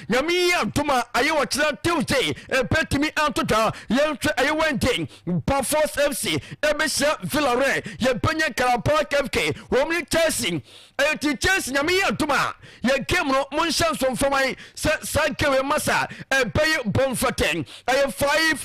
Nyame yi antom a ayɛ wɔ kyena Tuesday mpɛ tumi anto dwa yɛn hwɛ ɛyɛ Wednesday Bafos FC ɛbɛhyia Villarreal yɛn pɛ nyɛ Karabakh FK wɔn ne Chelsea ɛti Chelsea Nyame yi antom a yɛ game no mo nhyɛ nso mfa man sɛ saa game yɛ masa ɛbɛyɛ bɔ mfɛtɛ ɛyɛ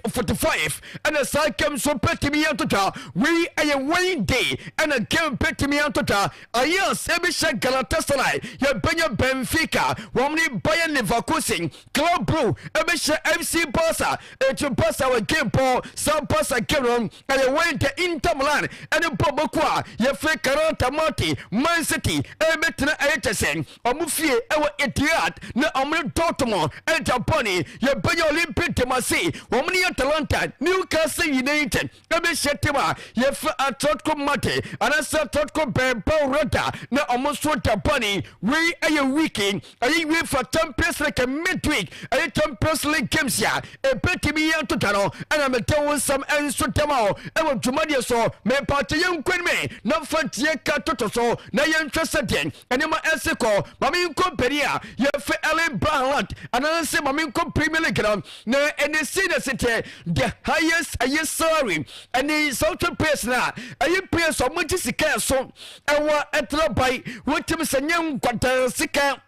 5:45 ɛna saa game nso pɛ tumi anto dwa wei ɛyɛ Wednesday ɛna game pɛ tumi anto dwa Ayiase bi hyɛ Galatasaray, yɛbɛnya Benfica, wɔn ne Bayer Leverkusen, Club Brugge ɛbɛhyɛ FC Barca, eti Barca wɔ game pɔn, saa Barca game no ɛyɛ Wednesday, Inter Milan ɛne bɔ bɛku a yɛfrɛ Karanta Mate, Man City ɛbɛtena ɛyɛ kyɛ sɛ wɔn fie ɛwɔ Etihad na wɔn ne Dortmund ɛgya bɔne, yɛbɛnya Olympique de Marseille, wɔn ne Atalanta, Newcastle United. ebi hyɛ tem a yɛfrɛ atrɔtko mate anaasɛ atrɔtko bɛɛba rɔda na ɔmo nso da bɔne wei ɛyɛ wiki ɛyɛ uefa champions league midweek ɛyɛ champions league games a ebetumi yɛ ntota no ɛna mede wo nsɛm nso dɛma o ɛwɔ dwumadie so mepaakyɛ yɛn nkwan me na mfa tie ka toto so na yɛnhwɛ sɛ deɛ nneɛma ɛsi kɔ maame nkɔ bɛni a yɛfɛ ɛle bahalat anaasɛ maame nkɔ premier league no Na ɛne si na si tɛ the highest ɛyɛ salary ɛne something pays na ɛyɛ pays ɔmo gye sika ɛso ɛwɔ ɛtena ban wotumi sɛ nyɛ nkwadaa sika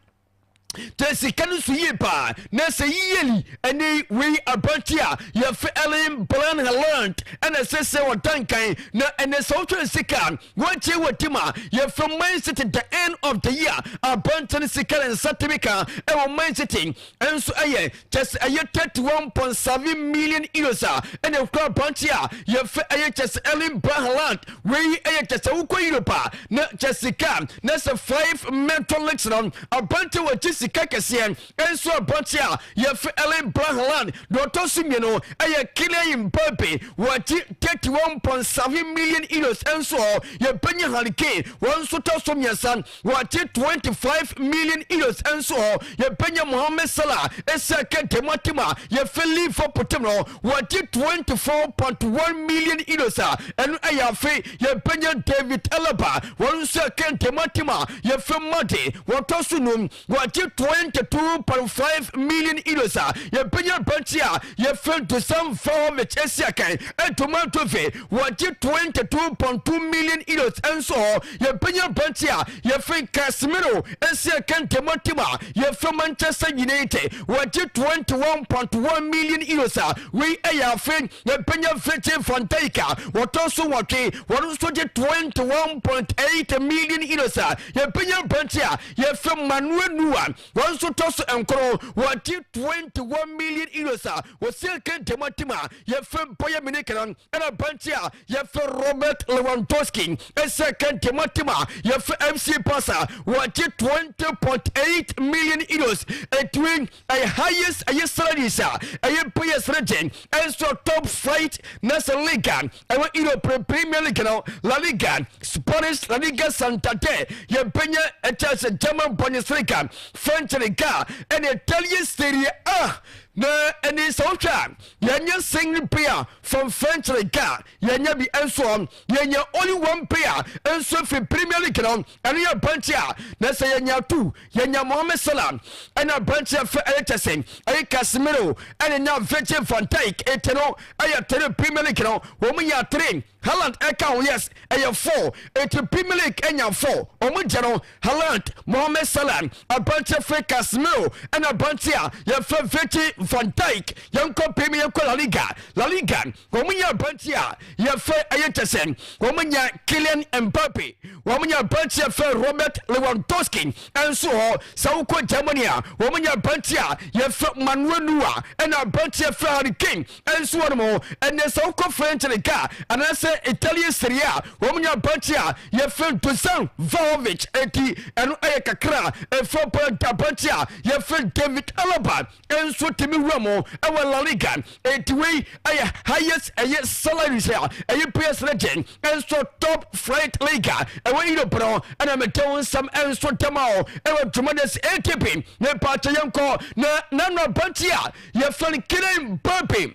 tẹ sika no so yie paa na sɛ yiyeli ɛne wei aberante a yɛfɛ ellen blanhaland ɛna ɛsɛ sɛ ɔda nkan na ɛnɛ sɛ wotwɛn sika Wɔakyie wɔ tim a yɛfrɛ Man City the end of the year abɔnten sikɛrɛ nsa tumi ka ɛwɔ Man City nso ɛyɛ kyɛ sɛ ɛyɛ 31.7 million euros a ɛna ɛkura abɔnten a yɛfrɛ ɛyɛ kyɛ sɛ Erling Braut Haaland wei ɛyɛ kyɛ sɛ wokɔ Europe a na kyɛ sika na sɛ 5 metal leagues no abɔnten wɔgye sika kɛseɛ Nsuabɔnten a yɛfrɛ Ellen Brahaland na ɔtɔ so mmienu yɛ Killeen Baby, wɔgye 31.7 million euros nso hɔ, yɛbɛnya Harry Kane, wɔn nso tɔ so mmiɛnsa, wɔgye 25 million euros nso hɔ, yɛbɛnya Mohamed Salah, Isaka Dematim a yɛfrɛ Liverpool tim no, wɔgye 24.1 million euros a ɛno yɛ afe, yɛbɛnya David Alaba, wɔn nso yɛ Kane Dematim a yɛfrɛ Made, wɔtɔ so num. wɔgye twenty two point five million euros a yɛbɛnya aberanteɛ a yɛfrɛ no Dusan Vlahovic asi akan ɛdoma dove wɔgye twenty two point two million euros nso hɔ yɛbɛnya aberanteɛ a yɛfrɛ Casemiro asi akan dema tim a yɛfrɛ Manchester United wɔgye twenty one point one million euros a wei ɛyɛ afe yɛbɛnya Virgil van Dijk a wɔtɔ so wɔtwe wɔn nso gye twenty one point eight million euros a yɛbɛnya aberanteɛ a Yɛfrɛ Manuel Neuer, wɔn nso tɔ so nkron, wɔgye 21 million euros a wɔsi nka gyama tim a yɛfrɛ Bayern Munich no, ɛna aberanteɛ a yɛfrɛ Robert Lewandowski si nka gyama tim a yɛfrɛ FC Barca, wɔgye 20.8 million euros. Edwin ɛyɛ highest ɛyɛ salaries a ɛyɛ players no gye ɛnso top flight na sɛ league a ɛwɔ europe no premier league no la liga spanish la liga santander yɛbɛnya ɛkyɛ sɛ german bundesliga french liga ɛne italian serie a na ɛne sɛ wohwɛ a yɛnyɛ single player from french liga yɛnyɛ bi ɛnso yɛnyɛ only one player ɛnso firi premier league no ɛno yɛ bɛnkye a na sɛ yɛnya tu Yɛnyaa Mohamed Salah ne aberanteɛ a fɛ yɛ kɛse yɛ Casemiro ne na Virgil van Dijk nti no yɛ three Premier League no wɔn nyaa three Haaland ka ho yes ɛyɛ four nti Premier League nyaa four wɔn gye no Haaland Mohamed Salah aberanteɛ fɛ Casemiro ne aberanteɛ a yɛfrɛ Virgil van Dijk yɛnkɔ Premier yɛnkɔ La Liga La Liga Wɔn nya aberanteɛ a yɛfɛ ɛyɛ kyɛ sɛ wɔn nya Kylian Mbappe, wɔn nya aberanteɛ yɛfɛ Robert Lewandowski nso hɔ. Sɛ wokɔ Germany a wɔn nya aberanteɛ a yɛfɛ Manuel Neuer ɛna aberanteɛ yɛfɛ Harry Kane nso wɔ nom hɔ. Ɛnɛ sɛ wokɔ French Ligue a anaasɛ Italy Serie A wɔn nya aberanteɛ a yɛfɛ Dusan Vlahovic enti ɛno ɛyɛ kakra a ɛfiri hɔ. Aberanteɛ a yɛfɛ David Alaba nso tumi wura mu wɔ La Liga. Enti wei ɛyɛ highest ɛyɛ salaries a ɛyɛ players no gye nso top flight league a ɛwɔ Europe no ɛna mede wo nsɛm nso dɛma o ɛwɔ dwumadɛ sɛ ATP ne paakyɛ yɛnkɔ na nano abante a yɛfrɛ no Kylian Mbappe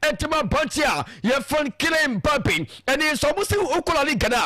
ɛtim abɔnten a yɛfrɛ no Killing Mbappe ɛne nso ɔmo si wokɔ La Liga no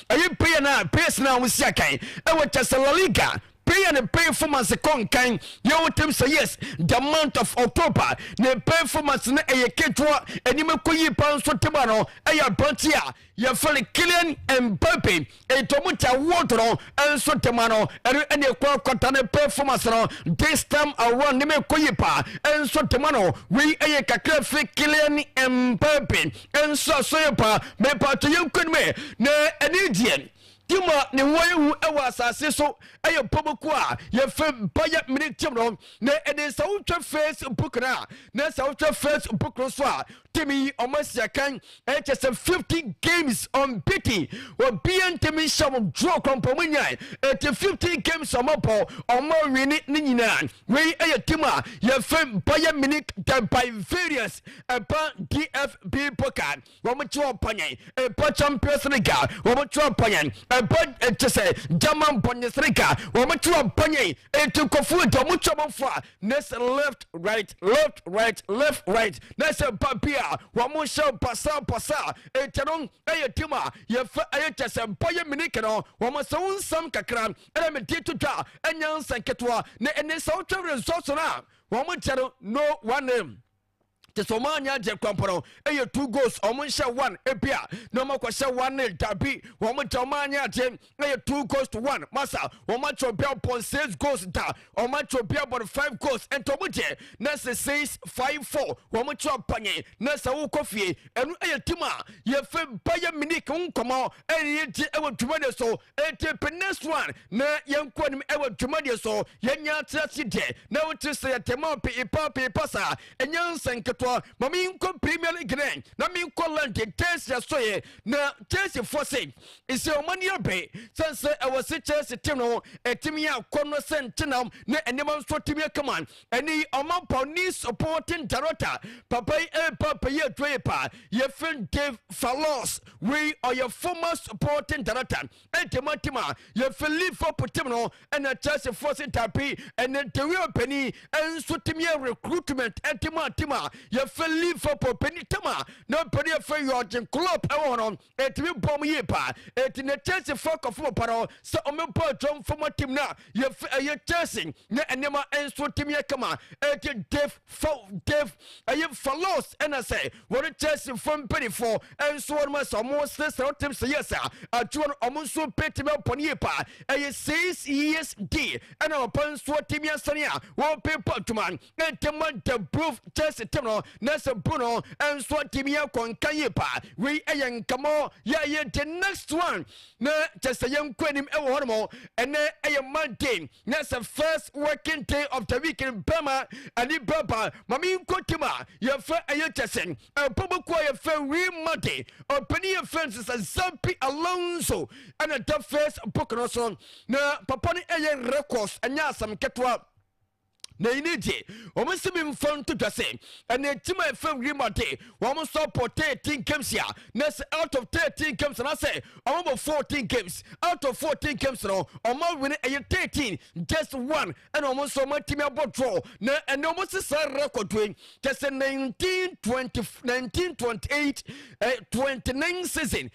a ɛyɛ player no a players no a ɔmo si akan ɛwɔ kyɛ sɛ La Liga player no performance kɔ nkan yɛ wo tim sɛ yes the month of October ne performance no ɛyɛ ketewa anim ɛkɔ yie paa nso tema no ɛyɛ abɔnten a Yɛfrɛ Kylian Mbappe ɛtɔ mu ta wɔdɔ no nso de ma no ɛno ɛne ɛkura kɔta ne performance no this time around ne ma ɛkɔ yi paa nso de ma no wei ɛyɛ kakra fi Kylian Mbappe nso aso yɛ paa mepa to yɛn kwan mu na ɛne deɛ tima ne ho ayɛ hu ɛwɔ asase so ɛyɛ pɔmɔku a yɛfrɛ bayɛ mene tim no na ɛne sɛ wotwa facebook no a na sɛ wotwa facebook no so a timi yi ɔmo asi akan ɛkyɛ sɛ 50 games unbeaten obiɛ ntimi nhyɛ ɔmo draw kɔmpɔ ɔmo nyae ɛti 50 games ɔmo bɔ ɔmo awini ne nyinaa wei ɛyɛ tim a yɛfɛ Bayern Munich the Bavarians ɛba DFB Pokal ɔmo kyerɛ ɔpanyɛn ɛba Champions League a ɔmo kyerɛ ɔpanyɛn ɛba ɛkyɛ sɛ German Bundesliga ɔmo kyerɛ ɔpanyɛn ɛti kɔfoɔ ɛti ɔmo kyerɛ ɔmo fo a na sɛ left right left right left right na sɛ ba bi a wɔn hyɛ basabasa ɛkyɛ no ɛyɛ tim a yɛfɛ ɛyɛ kyɛ sɛ ba yɛ mini kɛnɛ wɔn sɛ wo nsɛm kakra ɛna me di to dwa ɛnyɛ nsɛm ketewa na ɛne sɛ wotwa resɔso no a wɔn kyɛ no no one name. te sɛ ɔmo anyɛ adeɛ kora mpo no ɛyɛ two goals ɔmo nhyɛ one ebi a na ɔmo akɔhyɛ one nil dabi wɔn mo gya ɔmo anyɛ adeɛ ɛyɛ two goals to one masa wɔn akyɛ obi abɔ six goals da wɔn akyɛ obi abɔ five goals nti ɔmo deɛ na sɛ six five four wɔn mo kyɛ ɔpanye na sɛ wokɔ fie ɛno ɛyɛ tim a yɛfɛ bayɛ minik nkɔmɔ ɛyɛ gye ɛwɔ dwuma ne so Enti pe next one na yɛnkɔ anim wɔ dwumadie so. Yɛnyɛ ate ase deɛ na wote sɛ yɛte ma wo peepa peepa saa. Ɛnyɛ nsɛm nketewa. Ma menkɔ Premier League no ɛ na menkɔ London Chelsea asɔeɛ na Chelsea foɔ se sɛ wɔn ani abe sɛn sɛ ɛwɔ se Chelsea team no ɛtumi yɛ akɔnnɔ sɛ ntenam ne nneɛma nso tumi yɛ kama. Ɛne yi Ɔmampɔn ne supporting director papa yi ɛrepa pɛ yi aduro yi paa yɛfrɛ Dave Fallos Wei ɔyɛ former supporting director ɛnti mo team a yɛfiri Liverpool team no ɛna Chelsea foɔ se dabi ɛnɛ De Gea panin ɛnso team yɛ recruitment ɛnti mo a team a yɛfiri Liverpool panin team a na panin yɛfiri Jurgen Klopp ɛwɔ hɔ no ɛtumi bɔ mo yie paa ɛnti na Chelsea foɔ kɔfo mo pa no sɛ ɔmɛbɔ adwam former team no a Yɛfɛ ɛyɛ Chelsea na nneɛma nso tumi yɛ kama ɛti Dave fa Dave ɛyɛ Falos ɛna sɛ wɔne Chelsea fo mpanimfoɔ nso wɔn sɛ wɔn srɛsrɛ wɔn tips yɛ sɛ adwuma no wɔn nso bɛtumi abɔ ne yie paa ɛyɛ six years deal ɛna wɔpɛ nso tumi asane a wɔpepa adwuma ntɛm ɔda bro kyɛse tem no na sɛ bro no nso atumi akɔ nka yie paa wei ɛyɛ nkamɔ yɛ yɛ the next one na kyɛ sɛ yɛnkɔ anim ɛwɔ hɔ nom ɛnɛ ɛyɛ monday na sɛ first working day of the week no bɛma ɛne bɛba ma menkɔ tim a yɛfrɛ ɛyɛ kyɛ sɛ ɛbɔbɔku a yɛfrɛ wii monday ɔpani yɛfrɛ no sɛ zampi alonso ɛna da first book no so na papa no ɛyɛ records ɛnyɛ asɛm ketewa na eyi ne deɛ wɔn si mi mfa nto dwa sɛ ɛna etim a efa wiem ade wɔn nso abɔ thirteen games a na sɛ out of thirteen games na sɛ wɔn abɔ fourteen games out of fourteen games no wɔn awene ɛyɛ thirteen just one ɛna wɔn nso wɔn atumi abɔ draw na ɛna wɔn sisa record yi kyɛ sɛ nineteen twenty nineteen twenty eight eh, twenty nine season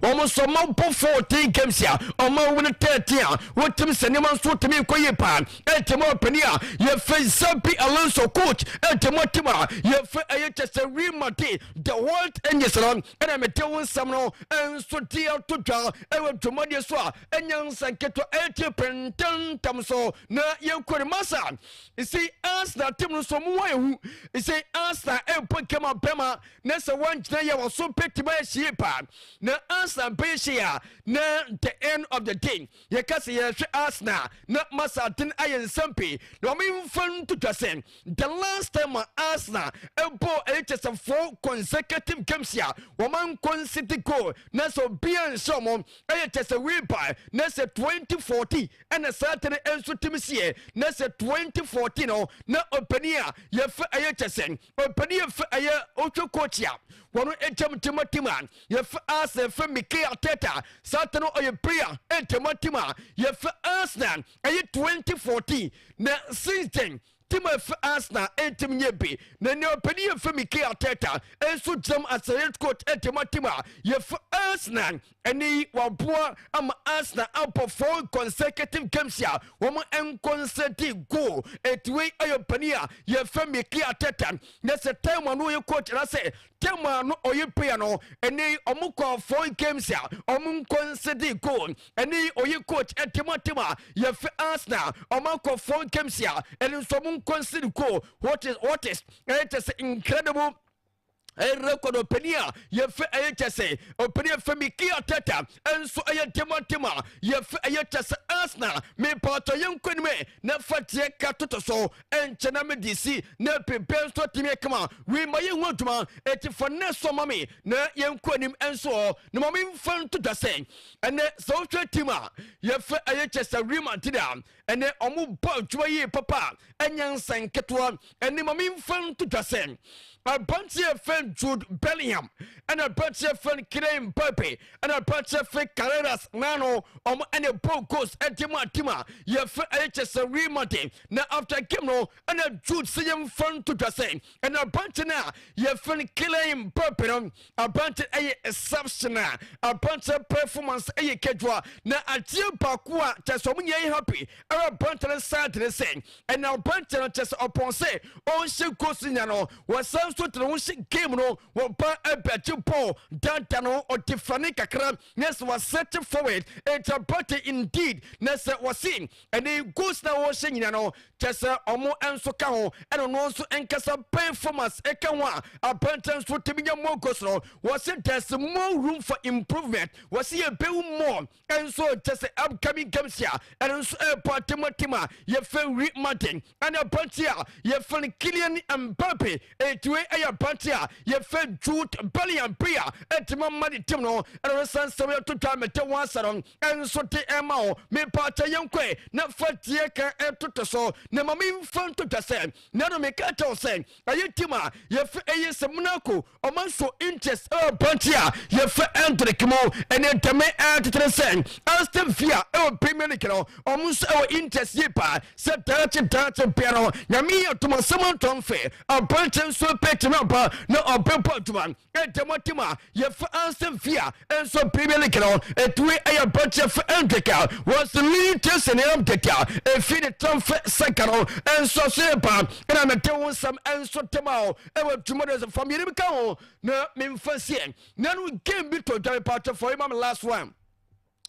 Wɔn nso ɔma bo foo Tin Kemsi a ɔma owu no tɛɛ tee a wotim sɛ nneɛma nso tumi nkɔ yie paa. Ɛte mu a ɔpanin a yɛfrɛ Xabi Alonso, coach, ɛte mu a tim a yɛfrɛ ɛyɛ kyɛ sɛ Real Madrid, the world angels no ɛna mede wo nsɛm no nso de ato dwa ɛwɔ dwumadie so a ɛnyɛ nsa nketewa ɛte pɛntɛntɛm so na yɛnkɔ ne masa ɛsɛ Arsenal tim no nso mu wɔ ehu ɛsɛ Arsenal ɛbɔ game abɛma na sɛ wɔnkyena yɛ wɔ so bɛtumi ayɛ hyie paa na ansa bɛyɛ hyie a na the end of the day yɛka sɛ yɛhwɛ Arsenal na masaten ayɛ nsɛm pii na ɔmemfa nto dwa sɛ the last time a Arsenal ɛbɔɔ ɛyɛ kyɛ sɛ four consecutive games a wɔmankɔnsete goal na sɛ obia nhyɛ ɔmo ɛyɛ kyɛ sɛ wei baa na sɛ 2014 ɛna saa tene nso timi sieɛ na sɛ 2014 no na ɔpani a yɛfɛ ɛyɛ kyɛ sɛ Ɔpɛni yɛ fɛ ɛyɛ ɔtwe coach a wɔn ɛkyɛm tema tema yɛ fɛ Arsenal fɛ Mikel Arteta satan ɔyɛ player ɛtema tema yɛ fɛ Arsenal ɛyɛ 2014 na since then tema fɛ Arsenal ɛntɛm nyɛ be na ne ɔpɛni yɛ fɛ Mikel Arteta ɛnso gyam asɛyɛ coach ɛtema tema yɛ fɛ Arsenal Ɛnnɛ yi, waboa ama Arsenal abɔ four consecutive games a wɔankɔ nsɛ de goal. Enti wei yɛ panin a yɛfrɛ Mikel Arteta. Na sɛ time a na ɔyɛ coach anaasɛ time a na ɔyɛ player no, ɛnnɛ yi wɔkɔɔ four games a wɔnkɔ nsɛ de goal. Ɛnnɛ yi ɔyɛ coach ɛde ma team a yɛfrɛ Arsenal. Wɔakɔ four games a ɛno nso wɔnkɔ nsɛ de goal. What is what is? Ɛyɛ just incredible. rekɔ no ɔpanin a yɛfɛ ɛyɛ kyɛ sɛ ɔpanin yɛfɛ Mikel Arteta nso ɛyɛ demontem a yɛfɛ ɛyɛ kyɛ sɛ Arsenal mepaatɔ yɛnkɔ anim ɛ na fa gyeɛ ka toto so ɛnkyɛ na mede si na pempɛ nso atumi akama wei ma yɛhu adwuma ɛti fa nnɛ so ma me na yɛnkɔ anim nso ɔ na ma memfa nto dwa sɛ ɛnɛ sɛ wohwɛ tim a yɛfɛ ɛyɛ kyɛ sɛ Real Madrid a Ɛnnɛ, wɔbɔ adwuma yie papa a, nyansa nketewa ni. Ma memfa nto dwa sɛ, aberanteɛ a yɛfrɛ no Jude Bellingham, ɛna aberanteɛ a yɛfrɛ no Kylian Mbappe, ɛna aberanteɛ a yɛfrɛ Carreras Nano, wɔn na ɛbɔɔ goals de maa team a yɛfrɛ ɛyɛ kyɛ sɛ Real Madrid. Na after game no, ɛna Jude sɛ yɛmfa nto dwa sɛ, ɛna abɔnten a yɛfrɛ no kilɛn pɛpɛ no abɔnten ɛyɛ exception a abɔnten performance ɛyɛ kedua na adeɛ baako a kyɛ sɛ ɔmo nyɛ yɛ happy ɛwɔ abɔnten side ne sɛ ɛna abɔnten no kyɛ sɛ ɔpɔn sɛ ɔnhyɛ goals nya no wɔsan nso tena ho hyɛ game no wɔba ɛbɛgye bɔɔl dada no ɔde fane kakra na sɛ wɔsɛte forward ɛnti abɔnten indeed na sɛ wɔse ɛne goals na wɔhyɛ nyina no kyɛ sɛ ɔmo nso ka ho ɛna ɔno nso nkasa performance ɛka ho a abɛntɛ nso tumi nya more goals no wɔse there's more room for improvement wɔse yɛbɛwu more ɛnso kyɛ sɛ upcoming games a ɛno nso ɛbɔ atematem a yɛfɛ wiri madden ɛna aberanteɛ a yɛfrɛ no Kylian Mbappe enti wei ɛyɛ aberanteɛ a yɛfrɛ Jude Bellingham bi a ɛde ma ma ne tim no ɛna no san sɛ wɔyɛto dwa mete wɔn asɛ no ɛnso de ɛma wo mepaakyɛ yɛnkɔe na fa deɛ kan ɛtoto so na ma memfa nto dwa sɛ na no meka kyɛw sɛ ɛyɛ tim a yɛfrɛ ɛyɛ sɛ Monaco Ɔma nso interest ɛwɔ banki a yɛfrɛ Endrick mu. Ɛnɛ dɛmɛ ɛɛtetene sɛ Ersten fie a ɛwɔ Bay Munich no, ɔmo nso ɛwɔ interest yie paa. Sɛ daakye daakye bia no, Nyame yɛ adom a sɛ moantɔ mfe, abankyɛ nso ɛbɛtumi no aba na ɔbɛbɔ adwuma. Ɛdɛm ɔte mu a, yɛfrɛ Ersten fie a ɛnso Bay Munich no, ɛte wei ɛyɛ abankyɛ yɛfrɛ Endrick a was lean taste and arm dɛte a ɛfie ne tramfɛ sɛ ka no ɛnso aso yɛ paa. Ɛna mede wo nsɛm ɛnso dema wo. ɛwɔ tuma de sɛ fa mmienu bi ka ho na memfa sie na no game bi tɔ dware paatwa fɔ yi ma me last one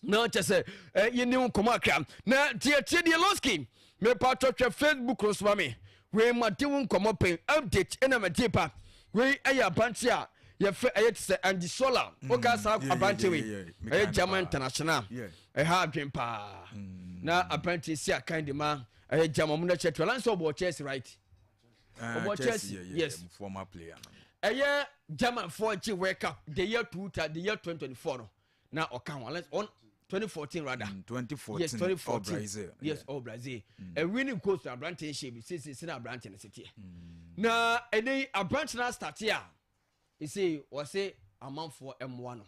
na kyɛ sɛ eh, yɛni ho nkɔmmɔ akra na tiatia deɛ loski mepaatwa hwɛ facebook no soma me wei made wo nkɔmmɔ pɛn update ɛna mɛgye pa wei ɛyɛ abante a yɛfrɛ ɛyɛ te sɛ andy sola mm, woka saa abante wei ɛyɛ german international ɛha adwen paa mm. na abante si akan de ma ɛyɛ german mu na kyɛ to ɛlan sɛ ɔbɔ chess right ɔbɔ chelsea yes former player no ɛyɛ german foɔ gye world cup the year two the year twenty twenty four no na ɔka ho unless on twenty fourteen rather mm, twenty fourteen yes twenty fourteen brazil yes all brazil mm. a winning goals na aberante n ṣe bi sisi si na aberante n ṣe teɛ na ɛnɛ aberante na start a Esei wɔse amanfoɔ mmoa no.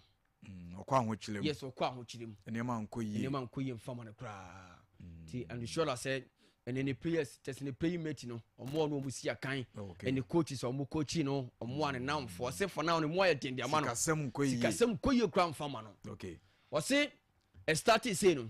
Mm, ɔkɔ ahokyerɛ mu. Yes, ɔkɔ ahokyerɛ mu. Nneɛma nkɔ yie. Nneɛma nkɔ yie nfa ma no koraa. Mm. Ti Andrushola sɛ ɛne ne players kyɛ sɛ ne playing mate no ɔmo a ɔmo si akan oh, ɛne coaches a ɔmo coachi no ɔmo a ne mm. namfoɔ ɔse for now ne mu ayɛ den de ama no sikasɛm nkɔ yie sikasɛm nkɔ yie koraa nfa ma no. Okay. Ɔse ɛstati sei no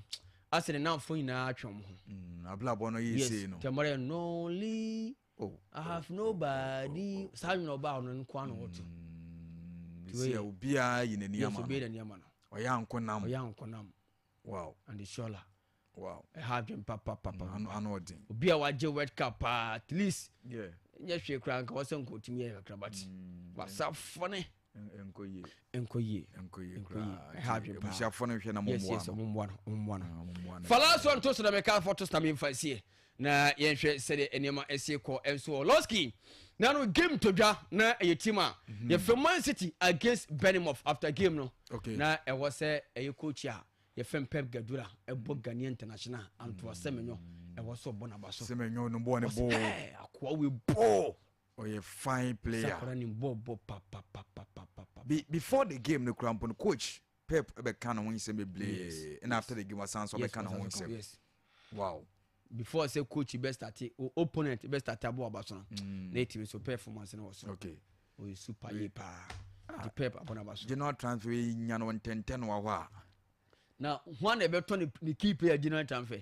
asɛ ne namfoɔ nyinaa atwe ɔmo ho. Mm, abrabɔ no yɛ sei no. Yes, tɛmɔrɛ nɔɔli. Oh, I have nobody. Saa nwene ɔbaa ɔno nko ano ɔte. Mm, Sɛ obiara yi n'ani ama no. Obiara n'ani ama no. Ɔyɛ anko nam. Ɔyɛ anko nam. Wow. And Shola. Wow. Ɛha adwene papapapa. Mm, ano ano ɔden. Obi a wagye World Cup paa at least. Yeah. Nyɛ hwee koraa nka wɔsɛ nkɔtumi yɛ kakra but. Mm, Wasafo ne. nkɔ yie nkɔ yie nkɔ yie nkɔ yie ɛha adwene paa abusuafoɔ no hwɛ na mo yes yes ɔmo mmoa no ɔmo mmoa no ɔmo mmoa no falaso nto so na mɛka afɔ to so na mɛmfa sie na yɛnhwɛ sɛdeɛ nneɛma ɛsi kɔ ɛnso ɔlɔski na no game to dwa na ɛyɛ team a mhm. yɛfɛ man city against benimof after game no okay. na ɛwɔ sɛ ɛyɛ coach a yɛfɛn pep gadura ɛbɔ ghanaian international antoa sɛmenyɔ ɛwɔ sɛ ɔbɔ naba so sɛmenyɔ no bɔɔ ne bɔɔ akoa wei bɔɔ ɔyɛ fine player sakora nim bɔɔlbɔ papapapapapa Be, before the game no kura mpo no coach pep ɛbɛka ne ho nsɛm bebree ɛna after the game wasan so ɔbɛka ne ho nsɛm yes wow before sɛ coach bɛ start o opponent bɛ start abo aba so no mm. na ɛtumi so performance no wɔ so okay ɔyɛ super yie paa ah. nti pep abɔ no aba so general transfer yi nya no ntɛntɛn no wɔ hɔ a na ho a na ɛbɛtɔ ne key player general transfer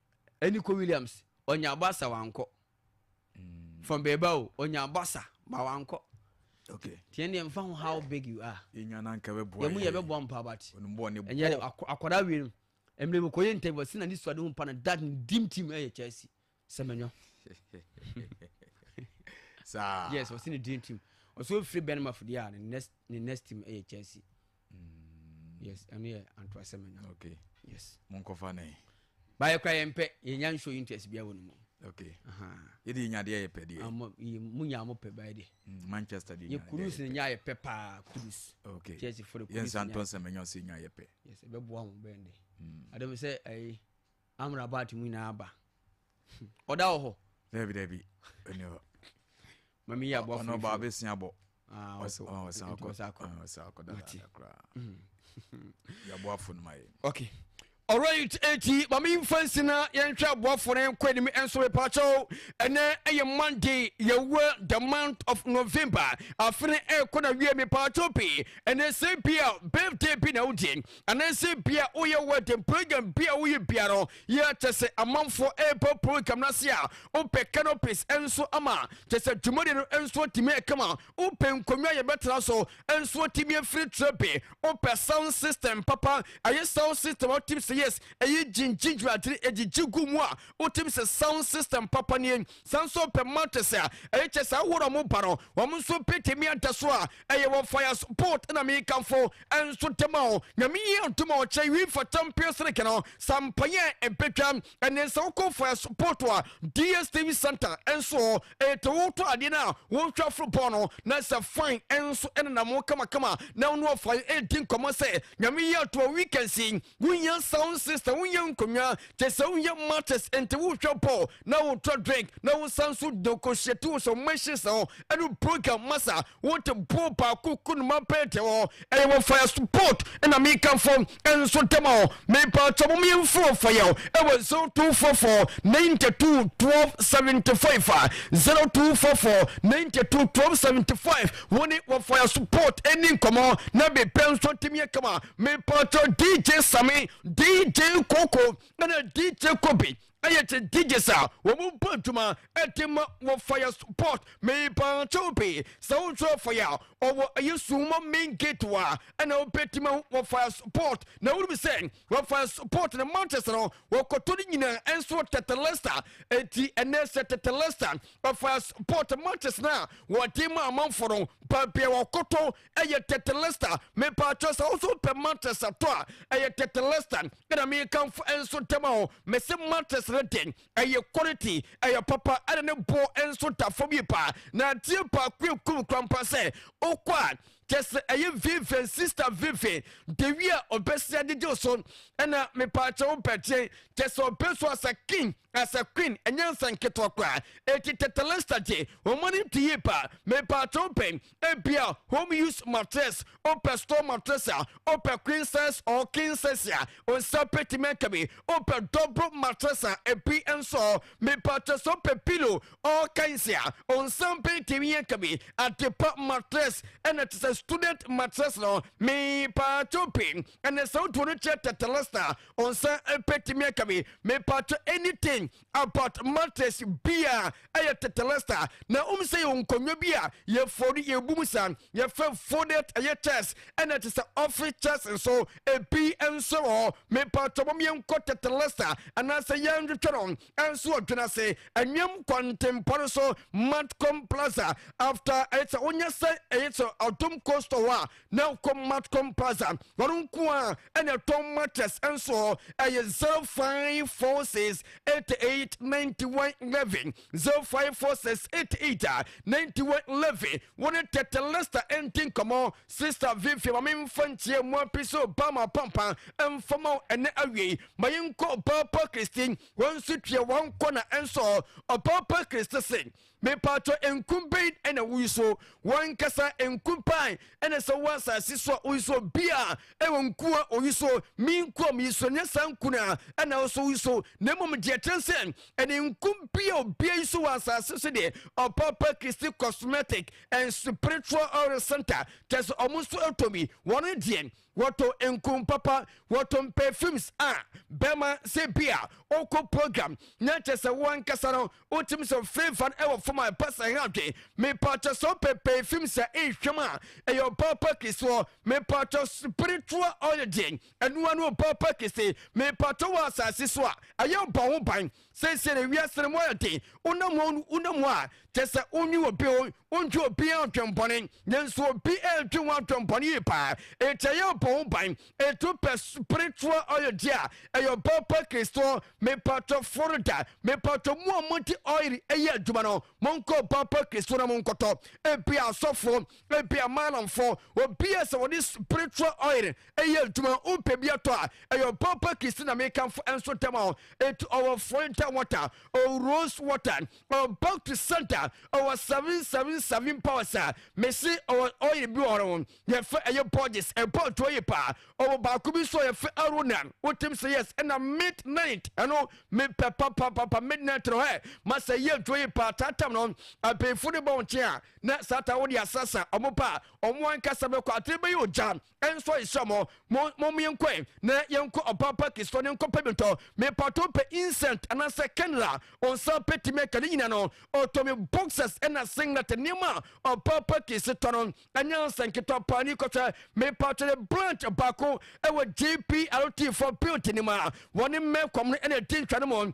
Ɛne kɔ Williams ɔnya basa wankɔ mm. from bɛɛba o ɔnya basa ma wankɔ okay. tiɛ ne yɛmfa ho how big you are yɛmu yɛbɛboa mpa but ɛnyɛ akɔda wie no ɛmmerɛ mekɔyɛ interview sɛ na ne suade ho mpa no dad ne dim team ɛyɛ chelsea sɛ manyɔ yes ɔse ne dream team ɔsɛ ɔfiri bɛnmafo deɛ a ne next team ɛyɛ chelsea Mm. Yes, ɛno yɛ antoa seminar. Okay. Yes. Monkɔfa ne. Baayɛ kora yɛn pɛ, yɛnya nso interest bia wɔ no mu. Okay. Aha. Yɛ de nya deɛ yɛ pɛ deɛ. Amo yɛ mu nya amo pɛ baayɛ de. Mm, Manchester deɛ nya. Yɛ kurus ne nya yɛ pɛ paa kurus. Okay. Chelsea fɔre kurus. Yɛn santo seminar si nya yɛ pɛ. Yes, ɛbɛ boa mo bɛn de. Mm. Adam sɛ ɛyi. Amrabat mu nyinaa aba. Ɔda wɔ hɔ. Dabi dabi. Ɔni hɔ. Ma mi yɛ aboa funu. Ɔno ɔba abɛsi abɔ. Ah, ɔsɛ ɔsɛ akɔ. Ɔsɛ akɔ. Ɔsɛ akɔ dada dada koraa. Yɛ aboa funu ma yɛ. Okay. Alright, eti maame yi nfa nsi na yɛnhwɛ aboafo no nkɔ anim nso repaakyɛw ɛnɛ ɛyɛ monday yɛwɔ the month of november afe no ɛrekɔ na wie mepaakyɛw pii ɛnɛ sɛ bi a birthday bi na wogye Anaasɛ ebia woyɛ wedding program bi a woyɛ biara no yɛ kyɛ sɛ amanfoɔ ɛreba program no ase a wopɛ canopies nso ama kyɛ sɛ dwumadi no nso atumi ɛkama wopɛ nkonnwa yɛbɛtena so nso atumi afiri trɛ bi wopɛ sound system papa ɛyɛ sound system a wotim sɛ yes ɛyɛ gyingyingyina agyere ɛgyigye gu mu a wotim sɛ sound system papa nie san so pɛ matches a ɛyɛ kyɛ sɛ ahodoɔ a wɔba no wɔn nso bɛtumi ada so a ɛyɛ wɔ fires port na mekamfo nso de ma o nyame yi adom a ɔkyerɛ wi fa champion sirike no sa mpaeɛ ɛbɛtwa ɛne sɛ wokɔ fires port a dstv center nso ɛtɛ wotɔ adeɛ no a wohwɛ aforo bɔɔ no na sɛ fine nso ɛnenam kamakama na wono ɔfae ɛdi nkɔmmɔ sɛ nyame yi ato a weekend si Wonya sound system, wonya nkonnwa, kyɛ sɛ wonya matches, nti wohwɛ bɔɔl na wotɔ drink na wosan so negotiate wo sɛ machines hɔ ɛne program masa wote bɔɔl baako kunuma pɛɛte hɔ. Ɛyɛ wɔ fire support na mekamfo nso dɛm a mepaakyɛ mo meɛmfiri wɔ fire o ɛwɔ 0244 92 12 75 a 0244 92 12 75 wo ne wɔ fire support ɛni nkɔmmɔ na biribiara nso atumi akama. Mepatɔ DJ Same, DJ Koko ɛna DJ Kobe ɛyɛ kye DJs a wɔn bɔ adwuma ɛde ma wɔ fire support. Mepatɔ obi sɛ wotwerɛ fire a ɔwɔ ɛyɛ sumo main gate wa ɛna wobɛti ma wɔ fire support na wonim sɛ wɔ fire support na matches no wɔkɔtɔ no nyinaa ɛnso wɔ tetelesta ɛti ɛnɛ sɛ tetelesta wɔ fire support matches no a wɔde ma amanfo no baabia wɔkɔtɔ ɛyɛ tetelesta mepaatwɔ sɛ woso pɛ matress atɔ a ɛyɛ tetelesta ɛna mekanfo nso ntɛm a o mese matress no den ɛyɛ quality ɛyɛ papa ɛna ne boɔ nso ta fam yi paa na adeɛ baako ekum krampa sɛ okɔ a kyɛ sɛ ɛyɛ vivian sista vivian dewi a ɔbɛsi agyegyew so ɛna mepaakyɛ wo bɛgye kyɛ sɛ ɔbɛsu asa king Na sɛ Queen ɛnyɛ nsɛm nketewa koraa eti Tetelista gye wɔn anim to yie paa. Mepakyɛ wo pɛ ebia home use mattress, wopɛ store mattress a, wopɛ queen size or king size a nsa bɛtumi aka bi, wopɛ double mattress a ebi nso ɔ, mepakyɛ sɛ wopɛ pillow all kinds a nsa bɛtumi aka bi, adepa mattress ɛna te sɛ student mattress no mepakyɛ wo pɛ. ɛnɛ sɛ wotuo no kyerɛ tetelesna ɔnsa bɛtumi aka me mepatwɛ anything about matters bia ɛyɛ tetelesna na wom sɛ yɛ nkonnwa bi a yɛfoɔ no yɛbu mu sa yɛfɛ fodet ɛyɛ chess ɛna te sɛ office chess nso ebi nso wɔ mepatwɛ mom yɛnkɔ tetelesna anaasɛ yɛnhwehwɛ no ɛnso ɔdwene ase ɛnwam kwantempɔ no so matcom plaza after ɛyɛ sɛ wonyɛ sɛ ɛyɛ sɛ ɔdom coast hɔ a na wokɔ matcom plaza wɔn nko a ɛna ɛtɔn mattress nso ɛyɛ zero five four six eight eight ninety one eleven zero five four six eight eight a ninety one eleven wɔn tɛtɛ lista ɛnti nkɔmɔ sista vivi maame nfa nkyia mu api so ba ma pampa nfa ma ɛnɛ awie ma yɛn nkɔ ɔpaapa kristi wɔn nso tua wɔn kɔ na ɛnso ɔpaapa kristi sing. Mepaatɔ nku bɛn na wo so wankasa nku pan na sɛ wɔ asase so a wo so bi a ɛwɔ nku a wo so me nku a me so nyɛ saa nku na ɛna wo so wo so na mmom deɛ kyerɛ sɛ ɛne nku bi a obia yi so wɔ asase so deɛ ɔpapa kristi cosmetic and spiritual oil center kyɛ sɛ ɔmo so ɛtɔ bi wɔn deɛ Wɔto nkum papa, wɔto mpɛ films a bɛma sɛ bi a ɔkɔ program na kyɛ sɛ wo ankasa no wotim sɛ flavor no ɛwɔ fam a ɛpɛ sɛ ɛha adwen. Mepatwɔ sɛ wopɛ pɛɛ films a nhwɛm a ɛyɛ ɔbaa pa kɛseɔ mepatwɔ spiritual oil deɛn ɛno ano ɔbaa pa kɛse mepatwɔ wɔ asase so a ɛyɛ ɔbɔ ho ban. Seesei no, wiase no mu ayɛ den. Wonam mu a, wonam mu a, kyerɛ sɛ wonnwe obi o, wondwe obiara adwembɔne. Nanso obi redwe wo adwembɔne yie paa. Enti ɛyɛ ɔbɔ ho ban. Enti wopɛ spiritual oil di a, ɛyɛ ɔbaa pa Kristo. Mepatwɔ Florida, mepatwɔ mo a mode oil yɛ adwuma no, monkɔ ɔbaa pa Kristo na monkɔtɔ. Ebia asɔfo, Ebia Malamfoɔ, obi a sɛ wɔde spiritual oil ɛyɛ adwuma wopɛ bi atɔ a ɛyɛ ɔpapa kisi na mekamfo nso ntɛm a enti ɔwɔ Florentine water ɔwɔ rose water ɔwɔ back to center ɔwɔ 777 powers a mese ɔwɔ oil bi wɔ hɔ yɛfɛ ɛyɛ Borges ɛbɔ adwo yɛ paa ɔwɔ baako bi nso yɛfɛ Arona wotim sɛ yes ɛna midnight ɛno mepɛ papapapa midnight no hɛ masɛ yɛ adwo yɛ paa tatam no abɛnfo no bɔ nkyɛn a Na Satan wo de asasa ɔmo pa a, ɔmo ankasa bɛkɔ atere bɛyɛ ogya. Ɛnso yesrɛ mo, mo, mom yɛnkɔɛ na yɛnkɔ Ɔpaapa Kristo ne nkɔpɛ bi ntɔ. Mepatoo pɛ incent anaasɛ candle a ɔnsa bɛtumi aka ne nyina no. Ɔtɔ me boxers ɛna singlet, nneɛma a Ɔpaapa Kris tɔ no ɛnyɛ nsɛ nketewa paa ni kɔhwɛ. Mepatɔ yɛ branch baako ɛwɔ JPRT foɔ building no mu a wɔne Melcom no ɛna ɛdi ntwa no mu.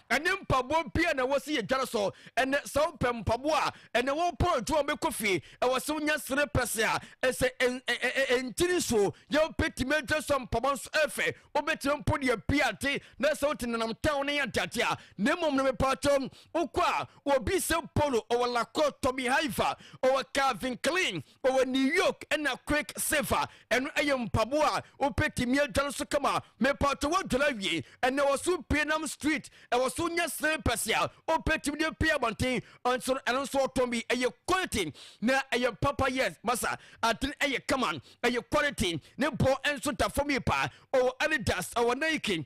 ɛne mpaboa bi a na ɛwɔ sɛ yɛdware so. Ɛnɛ sɛ wopɛ mpaboa a, ɛnɛ wopɔn adwuma bɛkɔ fie, ɛwɔ sɛ wonya sere pɛsɛ a ɛsɛ ɛntini nsuo yɛ wobɛtumi adwa so mpaboa nso ɛfɛ wobɛtumi mpo deɛ pii ate na sɛ wote nenam town no yɛ adeade a na mmom no mepaakyɛ wokɔ a wɔbi sɛ polo ɔwɔ lakɔ tommy haifa ɔwɔ calvin klein Ɔwɔ New York ɛna Quick Silver ɛno ɛyɛ mpaboa a wopɛ tumi adwane so kama mepatɔ wadwane awie ɛna ɛwɔ so pie nam street ɛwɔ so nyɛ slippers a wopɛ tumi de pie abɔnten nso no ɛno nso ɔtɔn bi ɛyɛ quality na ɛyɛ papa yes masa atene ɛyɛ kama ɛyɛ quality ne bɔ nso da fam yi paa ɔwɔ Adidas ɔwɔ Nike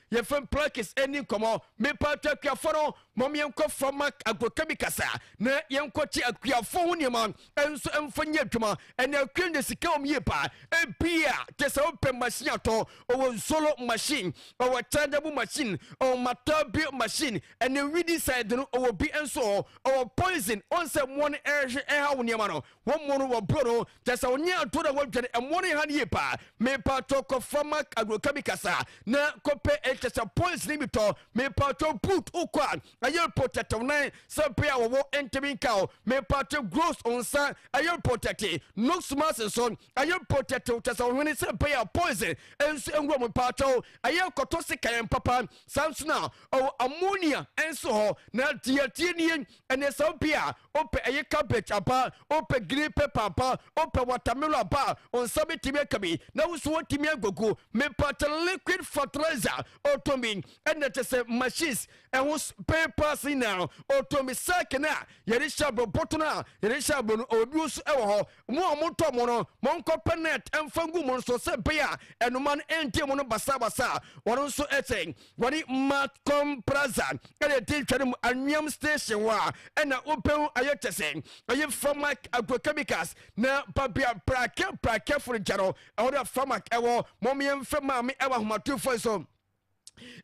Yɛfam Plaques ɛnni nkɔmmɔ. Mepaatɔ akuafoɔ no, mom yɛnkɔ fa Mark Agrokabi kasa na yɛnkɔ kye akuafoɔ ho nneɛma nso mfa nyɛ adwuma. Ɛnɛ akua nya sika wɔ mu yie paa. Ebia te sɛ wopɛ machine atɔ, ɔwɔ Nsolo machine, ɔwɔ Chargeable machine, ɔwɔ Matabi machine, ɛnɛ Weedicide no ɔwɔ bi nso hɔ, ɔwɔ Poison. Wɔn sɛ mmoa no ɛrehwe ɛha wo nneɛma no, wɔn mmoa no wɔboro no Kyɛ sɛ ɔnyɛ aduro na wadwane ɛmoa no ha no yie paa. Mepaatɔ kɔfa ma agrochemicals a na kɔpɛ ɛkyɛ sɛ points ne bi tɔ. Mepaatɔ boot wokɔ a ɛyɛ reportɛte wo nan sɛ bere a wɔwɔ ntumi nka o. Mepaatɔ grows wo nsa ɛyɛ reportɛte. Nose mask nso ɛyɛ reportɛte wo kyɛ sɛ ɔhwene sɛ bere a poison nso nwura mu. Mepaatɔ ɛyɛ kɔtɔ sekan papa saa nso na ɔwɔ ammonia nso hɔ na deɛ tie nie ɛnɛ sɛ bere a Wopɛ ɛyɛ cabbage aba a, wopɛ green pepper aba a, wopɛ watermelon aba a, wo nsa bɛtumi aka bi na wo nso woatumi agugu. Mepakyɛ liquid fertilizer ɔtɔn bi ɛna kyɛ sɛ machines ɛho spare parts nyinaa ɔtɔn bi. Sack no a yɛde hyɛ aburo, bɔtɔ no a yɛde hyɛ aburo no ɔwɔ nso ɛwɔ hɔ. Mo a motɔ mo no, monkɔpɛ net ɛmfa ngu mo no so sɛ ɛbɛyɛ a ɛnoma no ɛnte mo no basabasa. Wɔn nso ɛsɛ Wɔde Mount Comm Plaza na ɛdi ntwa no mu anweam station hɔ a ɛna wobɛhu ayɛ kyɛ sɛ ɛyɛ Farmac Agrochemicals na babea prake prakefo no gya no ɛhɔ no a Farmac ɛwɔ mom yɛmfrɛ maame ɛwɔ ahomatorofo yi so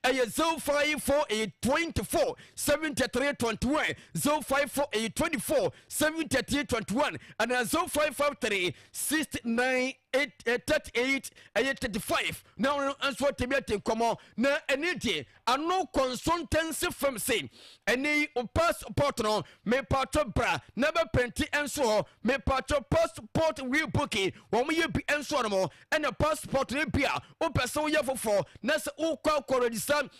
ɛyɛ 054824 7321 054824 7321 anaa 0553 69 eight eh, thirty eight ɛyɛ eh, thirty five na ɔno nso atumi ate nkɔmɔ na ɛne deɛ ano consultancy firm se ɛne yi passport no mepatɔ bra na bɛpɛnti nso hɔ mepatɔ passport rebooking wɔn yɛ bi nso hɔ nom ɛna passport no bi a wopɛ sɛ woyɛ foforɔ na sɛ wokɔ akɔ register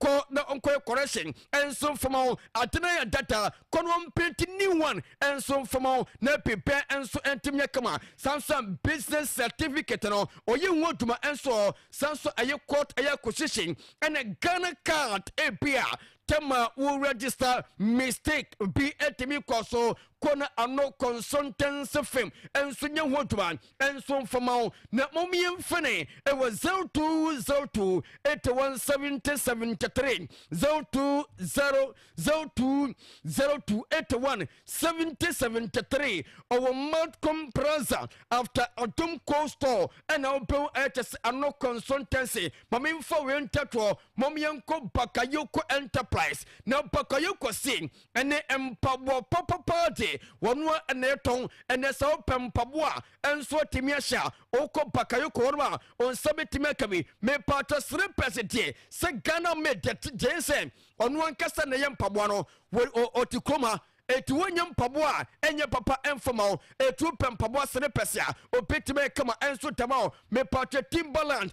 Kɔ na ɔnkɔyɛ correction nso mfama wo, ade no ayɛ dada, kɔ na ɔmprint new one nso mfama wo, na biribiara nso ntumi nyɛ kama. Saa nso a business certificate no ɔyɛ ho adwuma nso ɔ, saa nso a ɛyɛ court ɛyɛ acquisition ɛna Ghana card ebi a tam a wo register mistake bi ntumi nkɔ so, kɔ na ano consultancy firm nso nyɛ ho adwuma. nso mfama wo na mmom yɛmfene ɛwɔ 02028173 02028173 ɔwɔ malcom praza after ɔdom cold store ɛna wobɛhu ɛkyɛ sɛ ano kɔnsɔntɛnse ma memfa wei ntɛtoɔ mom yɛnkɔ bakayoko enterprise na bakayoko se ne mpaboa papapaa de wɔn a na ɛtɔn ɛnɛ sɛ wopɛ mpaboa nso atumi ahyɛ a wokɔ bakayoko hɔ no a wɔn nsa bɛtumi aka bi mepatɔ slippers deɛ sɛ ghana made deɛ gyen sɛ ɔno ankasa na ɛyɛ mpaboa no ɔte kurom ha eti wonye mpaboa a enye papa mfama o etu pɛ mpaboa slippers a obetumi kama enso dama o mepatwa timberland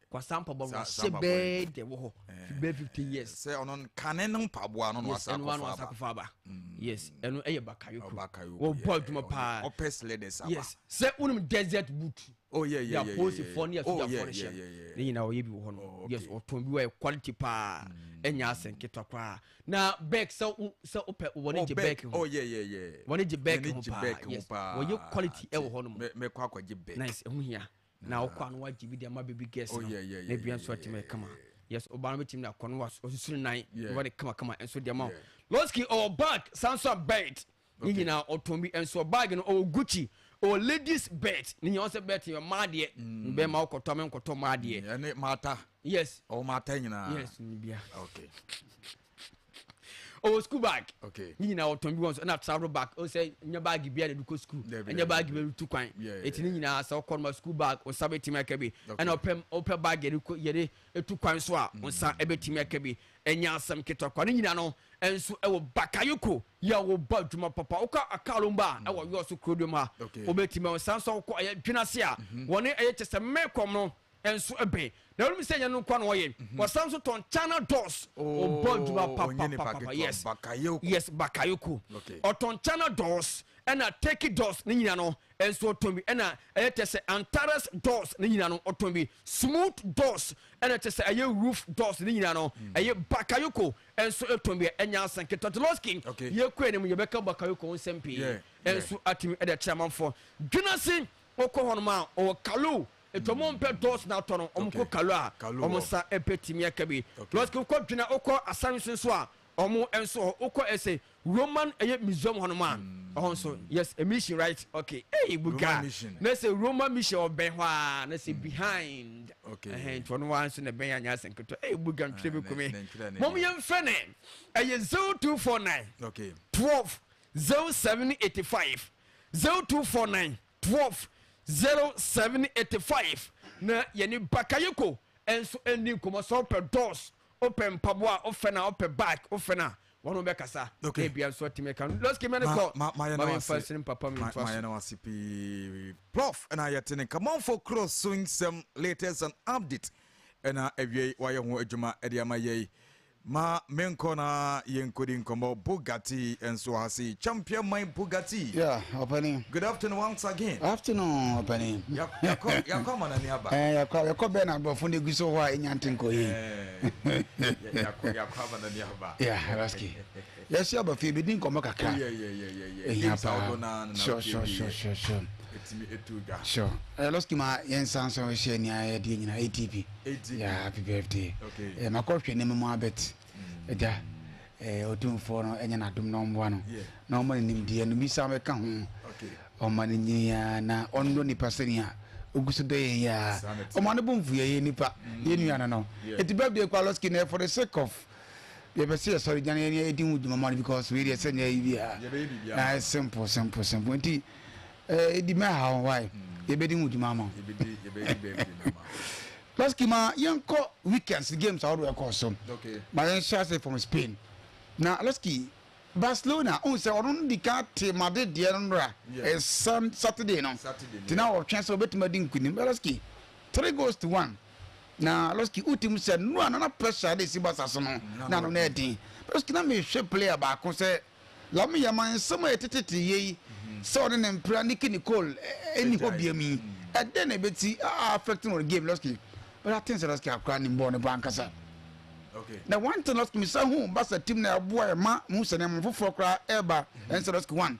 Kwasa mpaboa no ɔhyɛ bɛɛ dɛ wɔ hɔ fi bɛɛ fifty years. sɛ ɔno kane no mpaboa no na wasa akɔfa aba. yes ɛno wasa akɔfa aba. yes ɛno ɛyɛ bakayoko. ɔba kayoko yɛ ɔbɔ adwuma paa. ɔpɛ sleders aba. yes sɛ wonim desert boot. oh yɛ yɛ yɛ yɛ yaposi fɔ ne yasuda fɔ ne hyɛ ne nyinaa ɔyɛ bi wɔ hɔ no. yes ɔtɔn bi wɔ yɛ quality paa ɛnyɛ asɛn ketewa koraa na bɛɛk sɛ wo sɛ wopɛ wɔne gye bɛɛk ho. oh yɛ yɛ yɛ wɔne gye bɛɛk ho paa yes wɔyɛ quality ɛwɔ hɔ nom. mɛkɔ akɔgye bɛɛk. nice ɛho hia. na ɔkɔ ano wagye bi de ama baby girls oh, no na bia nso atumi ayɛ kama yes ɔbaa no bɛtumi de akɔ no wasusuru nan wɔde kama kama nso de ama loski ɔwɔ bag san so a belt ne nyinaa ɔtɔn bi nso bag no ɔwɔ gucci ɔwɔ ladies belt ne nyinaa ɔsɛ belt yɛ mmaa deɛ mm. bɛɛ ma ɔkɔtɔ ama nkɔtɔ mmaa deɛ mm, ɛne mata yes ɔwɔ mata nyinaa yes ne bia okay ɔwɔ school bag okay ne nyinaa ɔtɔn bi wɔn so ɛna travel bag ɔsɛ nyɛ bag bi a na ɛde kɔ school ɛnyɛ bag bi a ɛde tu kwan eti ne nyinaa sɛ ɔkɔ no school bag ɔnsa bɛtumi aka bi ɛna ɔpɛ ɔpɛ bag yɛde kɔ yɛde etu kwan so a ɔnsa mm. ɛbɛtumi aka bi ɛnyɛ asɛm ketewa kwan ne nyinaa no ɛnso ɛwɔ bakayoko yɛ a wɔba adwuma papa ɔkɔ akaalo mba a mm. ɛwɔ yɔɔso kuro dwom ha ɔbɛtumi ɔnsa nso ɔkɔ ɛyɛ dwenase a mm-hmm. wɔne ɛyɛ kyɛ sɛ mmɛkɔm no nso bɛn na wonim sɛ ɛnyɛ no nkoa na ɔyɛ ɔsan nso tɔn china doors ɔbɔ adwuma papapapa yes yes bakayoko ɔtɔn china doors ɛna turkey doors ne nyina no nso ɔtɔn bi ɛna ɛyɛ kyɛ sɛ antares doors ne nyina no ɔtɔn bi smooth doors ɛna kyɛ sɛ ɛyɛ roof doors ne nyina no ɛyɛ bakayoko nso ɛtɔn bi ɛnya asɛnke tɔtoloski yɛkɔ anim yɛbɛka bakayoko ho nsɛm pii nso atumi ɛde akyerɛ amanfoɔ dwenase wokɔ hɔnom a ɔwɔ kalo Eti ɔmo mpɛ dɔɔso na atɔ no, ɔmo kɔ Kalu a ɔmo nsa betumi aka bi. Lɔsk wokɔ Dwena, wokɔ Asan so nso a ɔmo nso wɔ hɔ. Wokɔ ɛsɛ Roman ɛyɛ Museum hɔ nom a ɛhɔ nso yes mission right ok ei buga na sɛ Roman mission ɔbɛn hɔ a na sɛ behind ɛhɛn nti ɔno ara nso na ɛbɛn anyɛ asɛ nketewa ei buga ntwerɛ bi kumi mom yɛn fɛ ne ɛyɛ zero two four nine twelve zero seven eighty five zero two four nine. twelve zero seven eighty five na yɛne Bakayoko nso ndi nkɔmmɔ sɛ wopɛ doors wopɛ mpaboa a wofɛ na wopɛ bag wofɛ na wɔn ho bɛkasa Okay. ebia nso atumi aka no lɔski mɛ ne Ma- kɔ ma- mayɛ no ma memfa ase. nsene papa me ntoa mayɛ so no ase pii prof ɛna yɛte ne nkamamfo korɔ so nsɛm latest and update ɛna awiei wayɛ ho adwuma ɛde ama yɛi Ma me nkɔ na yɛnkɔdi nkɔmmɔ. Bugatti nso ha sei. Champion man Bugatti. Yeah, ɔpanin. Good afternoon once again. Afternoon, ɔpanin. Yakɔ yakɔ ama n'ani aba. Ɛɛ yakɔ yakɔ bɛn na aborɔfo na egu so hɔ a enya nte nkɔ yie. Ɛɛ yakɔ yakɔ ama n'ani aba. Yeah, Rasky. Yɛahyia ba fie bɛdi nkɔmmɔ kakra. Oh, yeah, yeah, yeah, yeah, yeah. Games a wodɔ naa no na wotumi wie. Sure, sure, sure, sure. Ɛtumi ɛtu dwa. Sure. Ɛyɛ eh, lɔski ma yɛn san so hyɛ nea yɛdeɛ nyina ATP. ATP. Yeah, happy birthday. Okay. Eh, makɔhwɛ ne mɛmu abɛt. Mm. Ɛgya. Eh, ɔtumfoɔ no ɛnyɛ n'adom na ɔmmoa no. Yeah. Na ɔma no nimdeɛ no bi san bɛka ho. Okay. Ɔma no nyinaa na ɔnnɔ nipa sɛnea ogu so dɔ yɛn yɛ a. Ɔma no bo mfu yɛ yɛ nipa. Mm. Yɛ nua no no. Yeah. Ɛti birthday kwa lɔski na for the sake of yɛpɛ sɛ yɛsɔre gyina yɛne ɛdi ho dwuma ma no because wei deɛ sɛ ne ayi biara na ayɛ simple simple simple nti ɛdi mɛ ha ho wae yɛbɛdi ho dwuma ma lɔski ma yɛnkɔ weekends games ahodoɔ ɛkɔɔ so ma yɛnhyɛ ase from spain na lɔski barcelona ohun sɛ ɔno no di kan te made deɛ no nora ɛsan saturday no nti na ɔtwɛn sɛ ɔbɛtumi adi nkunim lɔski three goals to one Na Levski hu ti mu sɛ nnuru a na na pressure de si Barca so no, na ano no yɛ den. Levski, na mehwɛ player baako sɛ Lamia ma nsɛm a ɛte tete yei sɛ ɔne ne mpira Nicky Nicole nni hɔ biam yi, ɛdɛn na ɛbɛti a affect no wɔ game Levski? But I think sɛ Levski akora anim bɔɔl no paa ankasa. Na one thing Levski, mesan hu Barca team no a ɛboa yɛn ma mehu sɛ nneɛma foforɔ koraa ɛreba ɛne sɛ Levski one,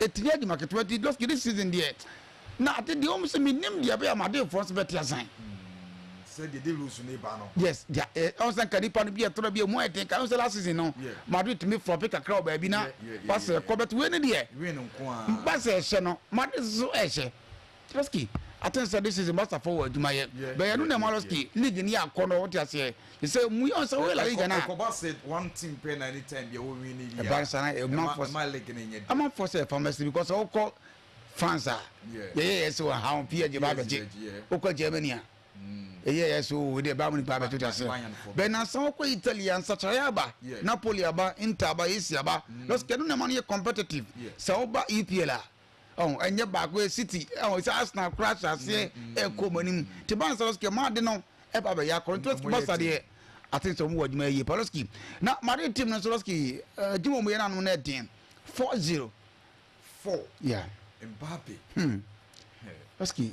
Ɛtini adwuma ketewa nti Dofki this season deɛ na ade deɛ wɔn sɛ menim deɛ ɛbɛyɛ ama adefoɔ nso bɛte asan. Sɛ deɛ de lose ne ba no. Yes deɛ ɛ ɔn sɛ nka nipa no bi ɛtɔrɔ bi emu ayɛ den ka ɔn sɛ last season no Madrid tumi flɔpi kakra wɔ baabi na wasɛ ɛkɔ bɛt wei ne deɛ ba sɛ ɛhyɛ no Madrid nso ɛhyɛ. Ski aten sɛ this season Barca fɔ wɔ adwuma yɛ but yɛ no na ɛma Ski league no yɛ akɔ no wote aseɛ te sɛ mu yɛ sɛ woyɛ La Liga no a ɛkɔba sɛ one team pɛ na anytime bia wo win bi a Barca na ɛma fɔ ɛma league no nyɛ dɛ ɛma fɔ sɛ ɛfa mɛsi because wokɔ France a yɛyɛ yɛ sɛ wɔ ha wɔn PSG ba abɛgye wokɔ Germany a yɛyɛ yɛ sɛ wɔ deɛ baa mu nipa abɛgye wote aseɛ bɛn na san wokɔ Italy a nsakyerɛ aba Napoli aba Inter aba AC aba Ski no na ɛma no yɛ competitive sɛ woba EPL a Ɔho ɛnyɛ baako ɛ city ɔho ɛsɛ Arsenal koraa hyɛ aseɛ ɛkɔ ɔmo anim te baa nsa no so kɛ maa ade no ɛba abɛyɛ akɔ nti lɔski basa deɛ aten sɛ ɔmo wɔ adwuma yie pa lɔski na Madrid team no nso lɔski adwuma ɔmo yɛ no anom no ɛden four zero four yeah Mbappe hmm lɔski.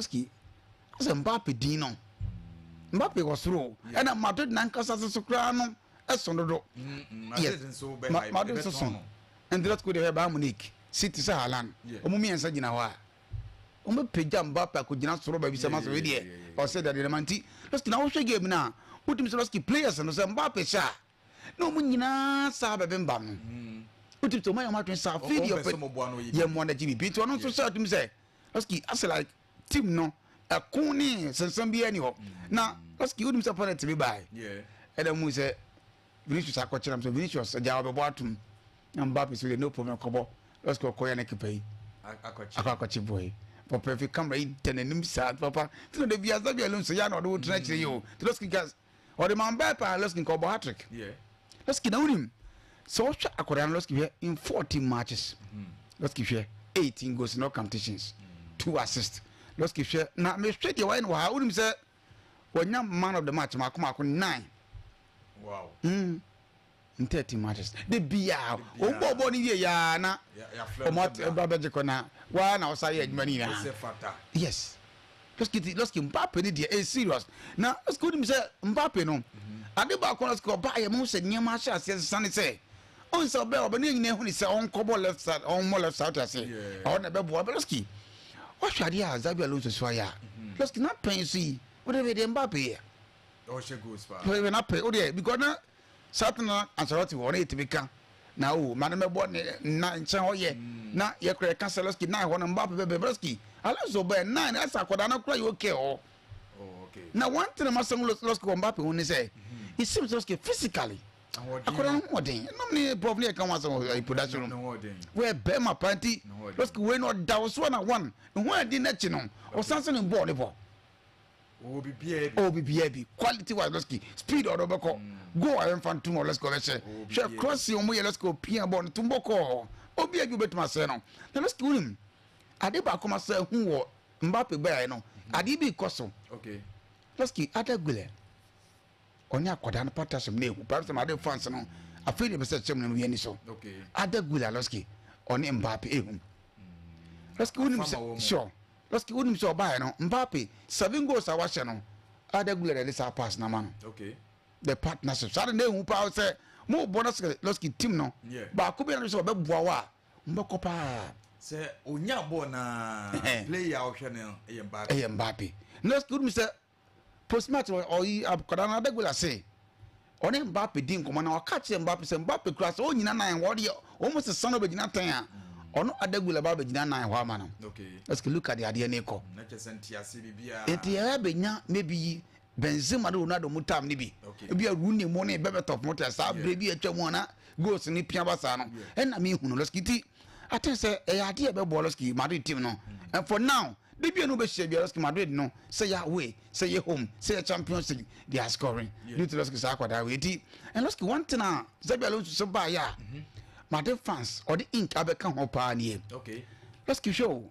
Ski sɛ Mbappe din no Mbappe wɔ soro o ɛna Madrid nankasa nso so koraa no ɛso dodo yes Madrid nso so Endrot ko deɛ ɔyɛ Bayern Munich City sɛ Haaland wɔn mmiɛnsa gyina hɔ a wɔn bɛ pagya Mbappe akɔgyina soro baabi sɛ ma sɔrɔ deɛ ɔsɛ deɛ deɛ ma nti Ski na wohwɛ game no a wotumi sɛ Ski players no sɛ Mbappe hyɛ a na wɔn nyinaa saa bɛbembam no wotumi sɛ wɔn ayɛ wɔn adwene saa afei deɛ ɔpɛ yɛ mmoa no gye biribi nti ɔno nso hyɛ atum sɛ ɔski asɛ like team no ɛko ne sensɛn bi ɛni hɔ na ɔski wonim sɛ pɔnɛt bi baae ɛna mu sɛ vinicius akɔkyerɛ m sɛ vinicius agya wɔbɛbɔ atom na mbappe so deɛ no problem kɔbɔ ɔski ɔkɔyɛ ne kepa yi akɔ akɔkye boɔ yi papa fi camera yi tɛ n'anim saa papa tena de bi asa bi alonso ya na ɔde wo tena akyire yi o tena ɔski gas Ɔde ma mbaa paa lɔski nka ɔbɔ hatrick lɔski na wonim sɛ ɔhwɛ akɔdaa no lɔski hwɛ in 14 matches lɔski hwɛ 18 goals in all competitions two assist lɔski hwɛ na mehwɛ deɛ wayɛ no wɔ ha wonim sɛ wanya man of the match maako maako nine wow mm. in thirty matches de bia wɔn bɔ bɔ ne wie yaa na wɔn aba bɛgye kɔ na waa na ɔsa yɛ adwuma ne nyinaa yes lɔsikiti lɔsiki mpape ne deɛ ɛyɛ serious na lɔsiki onim sɛ mpape no ade baako na lɔsiki ɔba yɛ mo sɛ nneɛma ahyɛ aseɛ sisa ne sɛ ɔn sɛ ɔbɛ ɔbɛ ne nyinaa ehu ne sɛ ɔnkɔbɔ left side ɔnmɔ left side ase ɔn na ɛbɛ boa bɛ lɔsiki wɔhwɛ adeɛ a zabi alonso so ayɛ a lɔsiki na pɛn so yi wɔde bɛ deɛ mpape yɛ ɔhyɛ goals paa wɔde bɛ na pɛn wɔde yɛ because na. Satana ansɔre ɔte hɔ na yɛtumi ka na o ma no mɛbɔ ne na nkyɛn hɔ yɛ na yɛkora yɛka sɛlɛski na hɔ no mbape bɛbɛ bɛski alonso bɛɛ na ne asa akɔda no kora yɛ oke hɔ na one thing ma sɛm lɔski wɔ mbape ho ne sɛ it seems lɔski physically akɔda no hoɔden nom ne prof ne yɛka ho asɛm wɔ production room wɔyɛ bɛrima paa nti lɔski wei no ɔda wo so na one ne ho adi no akyi no ɔsan sɛ ne bɔɔ ne bɔ ɔwɔ biribiara bi ɔwɔ biribiara bi quality wise let's go speed ɔdɔ bɛkɔ mm. goal ayɛ nfa ntum ɔ let's go bɛhyɛ hwɛ crossing ɔmo yɛ let's go pia bɔ no tum bɔ kɔɔ obi adwo bɛtuma sɛ no na let's go nim ade baako ma sɛ hu wɔ mbappe bɛyɛ no mm. ade bi kɔ so okay let's go ada gbilɛ. ɔne akwadaa no pata sɛm na ehu paa sɛm ade fans no afei na ɛbɛsɛ sɛm no yɛ ni so ada gula lɔski ɔne mbappe ehu hmm. lɔski wonim sɛ sure lɔski wonim sɛ ɔbaayɛ no mbappe seven goals a wahyɛ no ada gula na ɛde saa pass na ma no the partnership saa de na ehu paa sɛ mo bɔ lɔski lɔski team no baako bi na sɛ ɔbɛboa wa mbɛkɔ paa sɛ onya bɔɔl na player a ɔhwɛ no yɛ mbappe ɛyɛ mbappe lɔski wonim sɛ Postmortem, Ɔyi akwadaa no Adegbola se ɔne Mbappe di nkɔmmɔ na ɔka kyerɛ Mbappe sɛ Mbappe kura sɛ ɔnnyina nan hɔ deɛ wɔn sesa no ɔbɛgyina atɛn a ɔno Adegbola ba bɛgyina nan hɔ ama no. Ɛsɛ sɛ Luka de adeɛ no rekɔ. Nti ɛyɛ bɛnya maybe yi Benzema ne Ronaldo mu tam no bi. Ebi a Rooney mu ne Berbatov mu te saa berɛ bi atwa mu ana goals no pia ba saa no. Ɛna mehunu lɔski ti. I think sɛ ɛyɛ adeɛ ɛbɛboa Losky Madrid team no and for now de bi a no bɛhyia bia Losky Madrid no sɛ yɛ away sɛ yɛ home sɛ yɛ Champions League they are scoring due to Losky saa akwadaa wei ti and Losky one thing a Xabi Alonso sɛ baa yɛ a Madrid fans ɔde ink abɛka ho paa nie Losky hwɛ o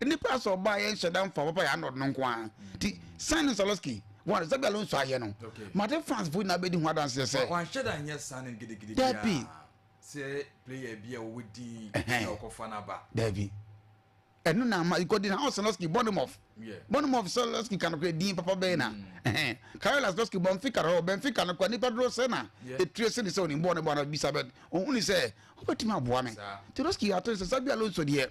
Nnipa asɔ ɔbaa yɛ nhyɛ da mfa papa yɛ anɔd no nko ara ti Simon Saloski wɔn Xabi Alonso ayɛ no mate France fo nyinaa bɛdi ho adanseɛ sɛ wɔanhyɛ da nyɛ saa no gidigidi biara sɛ player bi a wɔwɔ din na ɔkɔfa no aba daabi ɛno na ama ikɔdi na Saloski Bournemouth Bournemouth Saloski ka no kora din papa bɛyɛ na Karel Saloski Benfica no Benfica no kora nnipa doro sɛ na ɛtire se ne sɛ ɔnim bɔɔ ne bɔɔ no bisa bɛ ɔhu ne sɛ wobɛtumi aboa me Saloski ato ne sɛ Xabi Alonso deɛ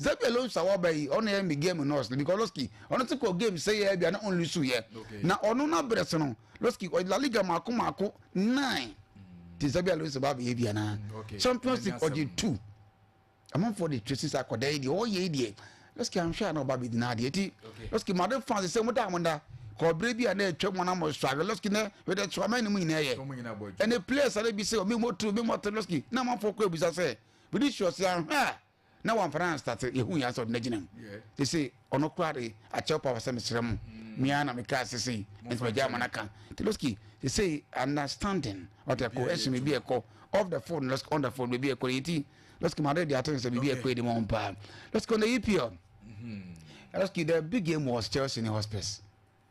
Xabi Alonso a wɔba yi ɔno yɛ me game nurse no because Losky ɔno te kɔ game sɛ yɛ bi a na ɔnlu su yɛ na ɔno na brɛ so no Losky ɔyɛ La Liga mako mako nine te Xabi Alonso ba bɛyɛ bi anaa mm, Champions League ɔgye two amanfoɔ de twɛ sisa akɔda yi deɛ ɔyɛ yi deɛ Losky anhwɛ a na ɔba bɛdi na adeɛ ti Losky made fans sɛ mo da mo da kɔɔbere bi a na atwa mu na mo sɔ ahwɛ lɔski na wɛdɛ tso aman ne mu nyinaa yɛ ɛnɛ players ara bi sɛ ɔmo mu otu ɔmo mu ɔtɔ lɔski na amanfoɔ kɔ ebusa sɛ bidi sɔ si ahwɛ a. na wɔamfa no anstate yɛho hia sɛ ɔde no agyina mu ɛsɛ ɔno koraa de akyɛw pa sɛ mesrɛ mu mea na mekaa sɛ sei nti magya ama no aka nti loski ɛsɛ understanding ɔte ɛkɔ ɛhyɛ me bi ɛkɔ off the phone loski on the phone biribi ɛkɔ yɛ ti loski ma de de ato sɛ biribi ɛkɔ yɛ de ma wɔn paa loski on the EPL loski the big game was Chelsea ne hospice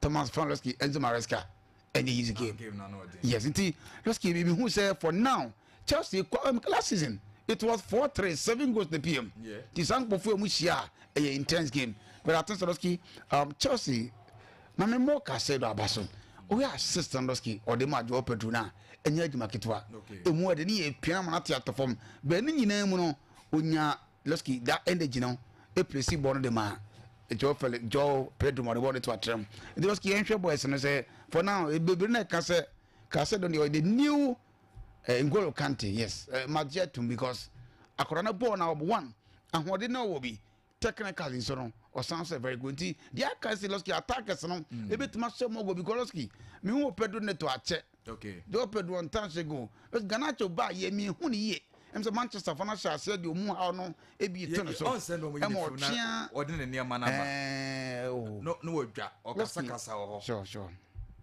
thomas fan rescue enzo maresca ɛne easy game yes nti rescue bi mehu sɛ for now chelsea kɔ um, last season it was four three seven goals na pm nti saa nkɔfoɔ a mu hyia a ɛyɛ intense game but i think soroski um, chelsea na me mmɔ kase do aba so woyɛ assist na dɔski ɔde ma adwoɔ pedro no a ɛnyɛ adwuma ketewa ɛmu ɛde ne yɛ pia ma no ate atɔ fam bɛɛ ne nyinaa mu no ɔnya Levski da energy no plesi bɔɔl no de maa Joao Fel Joao Pedro ma ɔde bɔɔl no to atram. Nti Levski yɛnhwɛ boys no sɛ for now bebree na ɛka sɛ Caicedo deɛ ɔyɛ the new eh, N'Golo Kante yes eh, magye atom because akwadaa no bɔɔl na ɔbɔ one ahoɔden na ɔwɔ bi technical nso no ɔsan sɛ very good nti deɛ aka sɛ Levski attackers no ebetumi ahyɛ mɔgɔ because Levski mehu wɔ Pedro Neto akyɛ Okay. Deɛ ɔpɛ do ɔntan hyɛ gu. Because Garnacho ba yɛ mi ehu ne yie. Ɛm sɛ Manchester fo no ahyɛ aseɛ deɛ ɔmu haw no ebi to ne so. Ɔnsɛ na ɔmo yi ne firi na ɔde ne nneɛma no aba. Ɛɛ o. Oh. No no ɔdwa ɔkasa kasa wɔ hɔ. Sure sure.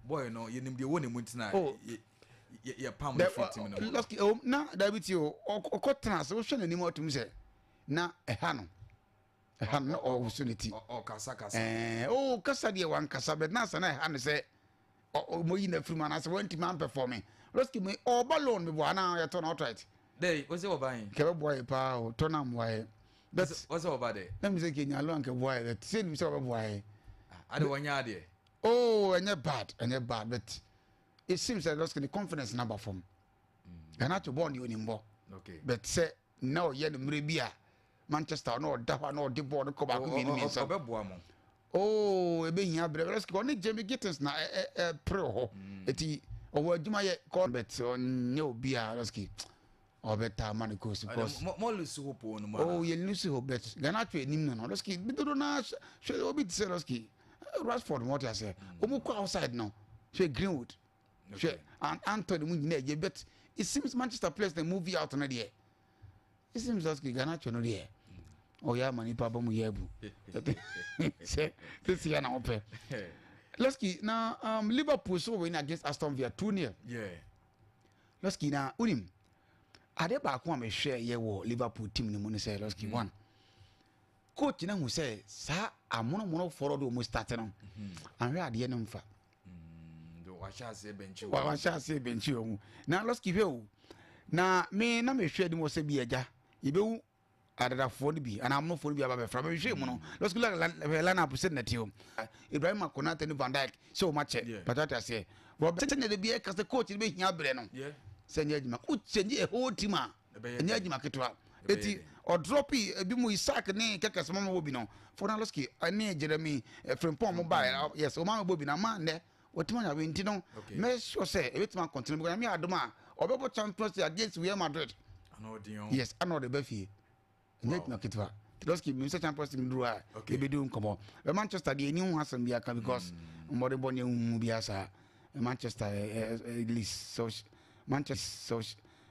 Boy no yɛ nim deɛ wɔ ne mu ntina oh. yɛ yɛ yɛ pam ne firi tim no mu. Lɔski ɛwɔ na dabi ti o ɔkɔ tena ase wohwɛ n'anim ɔtum sɛ na ɛha no. ɛha no na ɔwoso ne ti ɛɛ o kasa deɛ wankasa bɛ nansa na ɛha no sɛ ɔmɔyi na afiri mu anaasɛ wantumi ampɛfɔme roski mu ɔba loan meboa anaa yɛtɔ no outright dɛ ɔsɛ ɔba yɛn kɛ bɛboa yɛ paa o tɔ no ammoa yɛ but ɔsɛ ɔba dɛ na mi sɛ kɛ nyalo ankɛ boa yɛ but sɛ nim sɛ ɔbɛboa yɛ ah, ade wɔnyɛ adeɛ oh ɛnyɛ bad ɛnyɛ bad but it seems like roski ne confidence na ba fam ɛna to bɔɔ ne onimbɔ but sɛ Na ɔyɛ no mmerɛ bi a Manchester na ɔda hɔ a na ɔde bɔɔl no kɔ baako mmienu mmiɛnsa. Ɔbɛboa mo. Oo ɛbɛhia berɛ berɛ sɛ ɔne Jamie Gittens na ɛpere wɔ hɔ ɛti mm. ɔwɔ adwuma yɛ kɔ bɛt ɔnyɛ obi a lɔski ɔbɛtaa ma no kɔsi kɔs mɔlusi hɔ pɔn no mu oo yɛlusi hɔ bɛt Ghana atwa anim no no lɔski bidodo na hwɛ obi te sɛ lɔski Rashford mɔte aseɛ wɔn mm. kɔ outside no hwɛ Greenwood. hwɛ an antɔ ne mu nyinaa gye but it seems manchester players na move out no deɛ it seems as ke ganacho no deɛ ɔyɛ ama nipa ba mu yɛ abu sɛ sisi yɛ na ɔpɛ lɔski na um, liverpool so win against aston villa two nil yeah. lɔski na wonim ade baako a mehwɛ yɛ wɔ liverpool team no mu no sɛ lɔski mm. one coach no hu sɛ saa amonomonofoɔ no de ɔmu starte no mm-hmm. anhwɛ adeɛ no mfa Mm, wahyɛ aseɛ bɛnkyi wɔ wahyɛ aseɛ bɛnkyi wɔ mu na lɔski hwɛ o na me na mehwɛ anim wɔ sɛ bi agya yɛbɛhu adadafoɔ no bi anaa amonofoɔ no bi aba bɛfra mehwɛ mu no mm. lɔski hwɛ line up sɛ nnɛte o ibrahim akonate ne van dyke sɛ wɔma kyɛ patwate aseɛ wɔbɛsɛ ne de bi ɛka sɛ coach no bɛhia berɛ no sɛ nyɛ adwuma wokyɛnye a whole team a Ɛnyɛ adwuma ketewa. Eti ɔdrɔpi ebi mu Isaac ne kɛkɛs ma mebɔ bi no. Fonaloski ne Jeremy eh, Frimpong mo bae. Ah, yes, ɔma mebɔ bi na ma nnɛ wɔtumi anya wei nti no mɛ sure sɛ ebetumi akɔntene because nyame adom a ɔbɛbɔ Champions League against Real Madrid. Yes, ana ɔde ba fie. ɛnyɛ adwuma ketewa tedosky mi sɛ champions league duru a ebedi nkɔmɔ ɛ manchester deɛ ɛni ho asɛm bi aka because hmm. mmɔde bɔ ne ehu mu bi asa ɛ manchester ɛ ɛ ɛ leeds so manchester so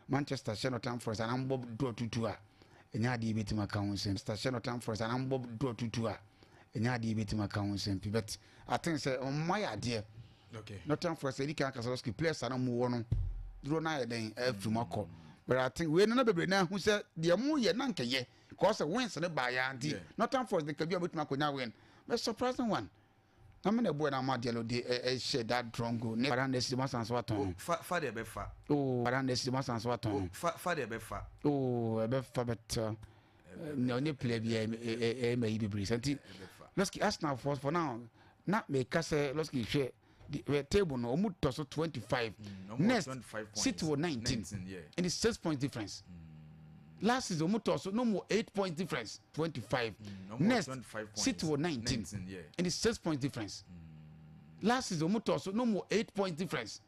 manchester hyɛ nɔtam forest anam bɔ dɔ tutu a ɛnyɛ adeɛ ebetumi aka ho nsɛm manchester hyɛ nɔtam forest anam bɔ dɔ tutu a ɛnyɛ adeɛ ebetumi aka ho nsɛm pi bɛt. I think sɛ wɔn mma yɛ adeɛ. Okay. Northern Forest edi kan kasa lɔski players a na wɔn wɔ no duro na ayɛ dɛn ɛfiri mu akɔ. But I think wei nana bebree na ehu sɛ deɛ mo yɛ na nkɛ yɛ cause wins ne baa yɛ anti Yeah. Northern Forest de kabi a betumi akɔnya win. But surprising one. Na me na ɛbɔ yɛ na ama Diallo de ɛ ɛhyɛ that drone goal ne Baranda si ma san so atɔn O, no. fa fa deɛ ɛbɛfa. Oo Baranda si ma san so atɔn O, no. fa fa deɛ ɛbɛfa. Oo ɛbɛfa bɛtɛ. na ɔnyɛ player bi ɛyɛ ma yi bebree sɛ nti lɔski arsenal for for now na mɛka sɛ lɔski hwɛ the table no ɔmu tɔ so twenty five mm, next city wɔ nineteen ɛne six points difference. Mm. last season ɔmu tɔ so no mu eight points difference twenty five mm, next city wɔ nineteen ɛne six points difference last season ɔmu tɔ so no mu eight points difference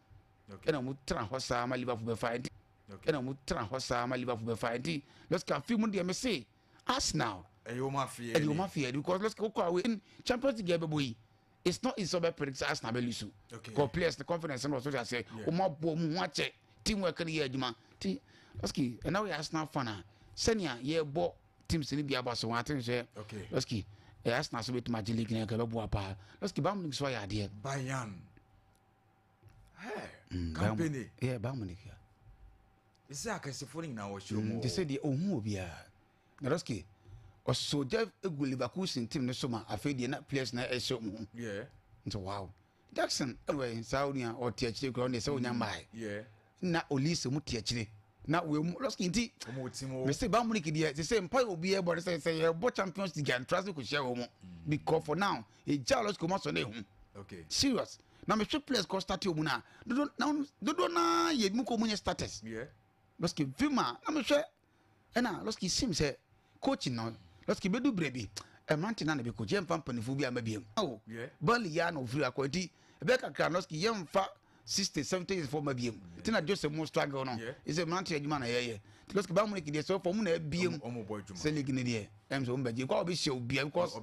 ɛna ɔmu tena hɔ saa ma liverpool bɛ fa ɛnti. Okay. Ɛna wɔn tra hɔ saa ma Liverpool bɛ fa ɛnti lɔsi ka fi mu deɛ mi se Arsenal. Ɛyɛ wɔn afeɛ ɛyɛ wɔn afeɛ because lɔsi kɔ awo in Champions League ɛbɛ bɔ yi it's not easy ɔbɛ predict Arsenal bɛ lusu. Okay. Kɔ players the confidence ɛna ɔsɔ ase wɔn abɔ wɔn ho akyɛ team work ni yɛ adwuma ti lɔsi ɛna wɔyɛ Arsenal fan a sɛnea yɛ bɔ teams ni bi aba so wɔn ati n sɛ lɔsi ɛyɛ Arsenal so bɛ tuma gye league na ɛkɛ bɛ bu apa lɔsi Bayern Munich so ayɛ adeɛ. Bayern. kampani yɛ ba mu nika ɛsɛ akɛsefoɔ no nyinaa wɔhyɛ mu te sɛ deɛ ɔhu obiara na rɔske ɔsɔ gya gu leverkusen tim no so ma afei deɛ na players na ɛhyɛ mu nti wow jackson ɛwɛ saa onua ɔte akyire kura ɔne sɛ ɔnya mmae na olise mu te akyire na wɔn mu lɔsiki nti mese ba mu ne kideɛ te sɛ mpa obi ɛbɔ ne sɛ sɛ yɛbɔ champions league antra se kò hyɛ wɔn mu mm. because for now egya lɔs kɔma sɔ na ehu okay serious na mehwɛ players kɔ start ɔmu no a dodo na dodo na yɛ mu kɔ ɔmu nyɛ starters yeah lɔski vima na mehwɛ ɛna lɔski sim sɛ coach no lɔski bɛdu berɛ bi ɛmante na na bɛkɔ gye mfa mpanimfoɔ bi ama biam awo bali yɛ na ɔfiri akɔ nti ɛbɛyɛ kakra lɔski yɛmfa sixties seventies years fɔ ma biem ti na joseph mo struggle no ɛsɛ mmerante adwuma na yɛyɛ ti lɔsike baa muniki deɛ sɛ ɔfɔ ɔmo na ɛbiem sɛ league ne deɛ ɛm sɛ ɔmo bɛ gye nkɔ a ɔbɛ hyɛ obia because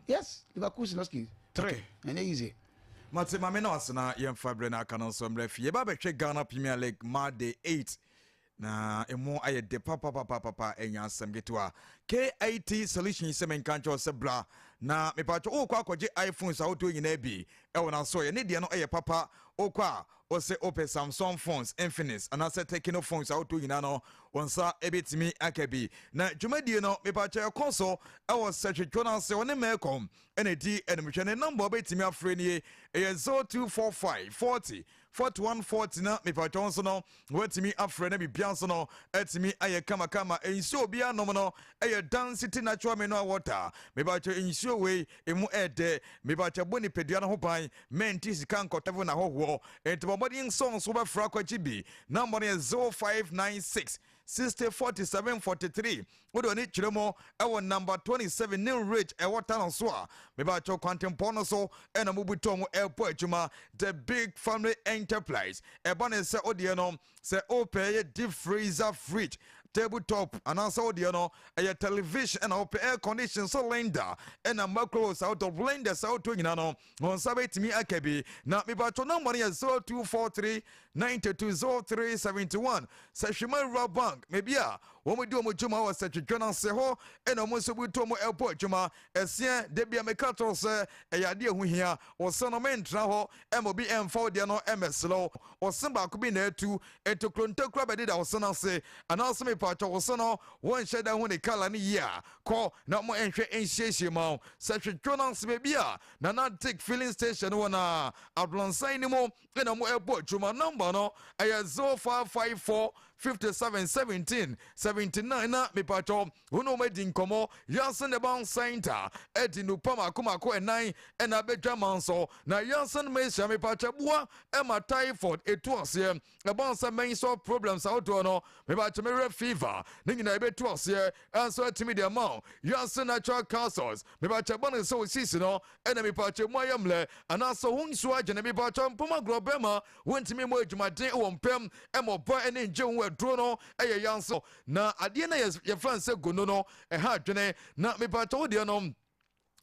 yes liverpool si lɔsike three ɛnyɛ easy. mate maame na wasena yɛmfa berɛ no aka no nso mmerɛ fie yɛba bɛhwɛ ghana premier league ma day eight Na emu ayɛ de papapapapa ɛnyɛ asɛm ketewa. KIT solution sɛ menka nkyerɛ wo sɛ bra na mepatwɔ wokɔ akɔgye iPhones ahodoɔ nyinaa bi ɛwɔ n'asoɔyɛ ne deɛ no ɛyɛ papa wokɔ a wose wopɛ Samsung phones, Infinix anaasɛ Tecno phones ahodoɔ nyinaa no wo nsa ɛbɛtumi aka bi. Na dwumadie no mepatwɔ ɛkɔ so ɛwɔ Sɛhwetwo no ase ɔne Melcom ɛna ɛdi animhwɛ ne number wobɛtumi afrɛ nie ɛyɛ 0245 40 Fort one fort na mepatwa wo nso no woatumi afrɛ na bibia nso no atumi ayɛ kama kama nsuo obia nom no ɛyɛ dan city natural mineral water mepatwa nsuo wei emu ɛɛdɛ mepatwa bɔ nipadua no ho ban mɛnti sika nkɔtɛvo na hɔhoɔ nti bɔ mmɔden nso nso wobɛfra kwakyi bi na mmɔden yɛ 0596 60 47 43 wode w'ani kyerɛ mu ɛwɔ number 27 new ridge ɛwɔ tunnel so a mebakyɛw kwantempɔn no so ɛna mubu tɔn mu ɛɛpɔ adwuma the big family enterprise ɛba ne sɛ wodeɛ no sɛ wopɛ ɛyɛ deep freezer fridge table top anaasɛ wodeɛ no ɛyɛ television ɛna wopɛ air condition so lender ɛna macro sɛ wotɔ blender sɛ wotɔ nyina no Wɔn nsa bɛtumi aka bi. Na mepatwɔ number no yɛ zero two four three ninety two zero three seventy one Sɛhwema Rural Bank baabi a wɔn di wɔn dwuma wɔ Sɛtwetwe no ase hɔ ɛna wɔn nso butu wɔn ɛbɔ adwuma ɛseɛ da bi a meka kyerɛw sɛ ɛyɛ adeɛ ɛho hia ɔsɛ no mentra hɔ ɛma obi ɛmfa wo deɛ no ɛmɛsrɛ wo ɔsɛ baako bi na ɛtu ɛtokuro ntakura bɛdeda ɔsɛ no ase anaasɛ mepatwɔ ɔsɛ no wɔnhyɛ da ho ne kala ne yie a Kɔ na mo nhwɛ nsiesie ma wo sɛ hwɛ Jonas baabi a Nana Dick filling station no wɔ na Abrɔnsan no mu na mo ɛbɔ adwuma number no ɛyɛ 0554 57 17 79 na mepatɔ wo ne wɔn adi nkɔmmɔ Yasin Eban Center ɛdi nnupa mako mako ɛnan ɛna abɛdwa man so na Yasin Mesia mepatɔ boa ɛma typhoid ɛtu aseɛ ɛbɔn sɛ mɛn sɔ problems ahodoɔ no mebakyɛ me werɛ fever ne nyinaa ɛbɛtu aseɛ ɛnso atumi deɛ ma wo wiase natural castles mebakyɛ bɔ no sɛ wo sisi no ɛna mebakyɛ mu ayɛ mmerɛ anaasɛ wo nsuo agye ne mebakyɛ mpoma agorɔ bɛma wontumi mmɔ adwumaden wɔ mpam ɛma ɔbɔ ɛne ngye wo aduro no ɛyɛ yan so na adeɛ na yɛfrɛ no sɛ gono no ɛha adwene na mebakyɛ wo deɛ no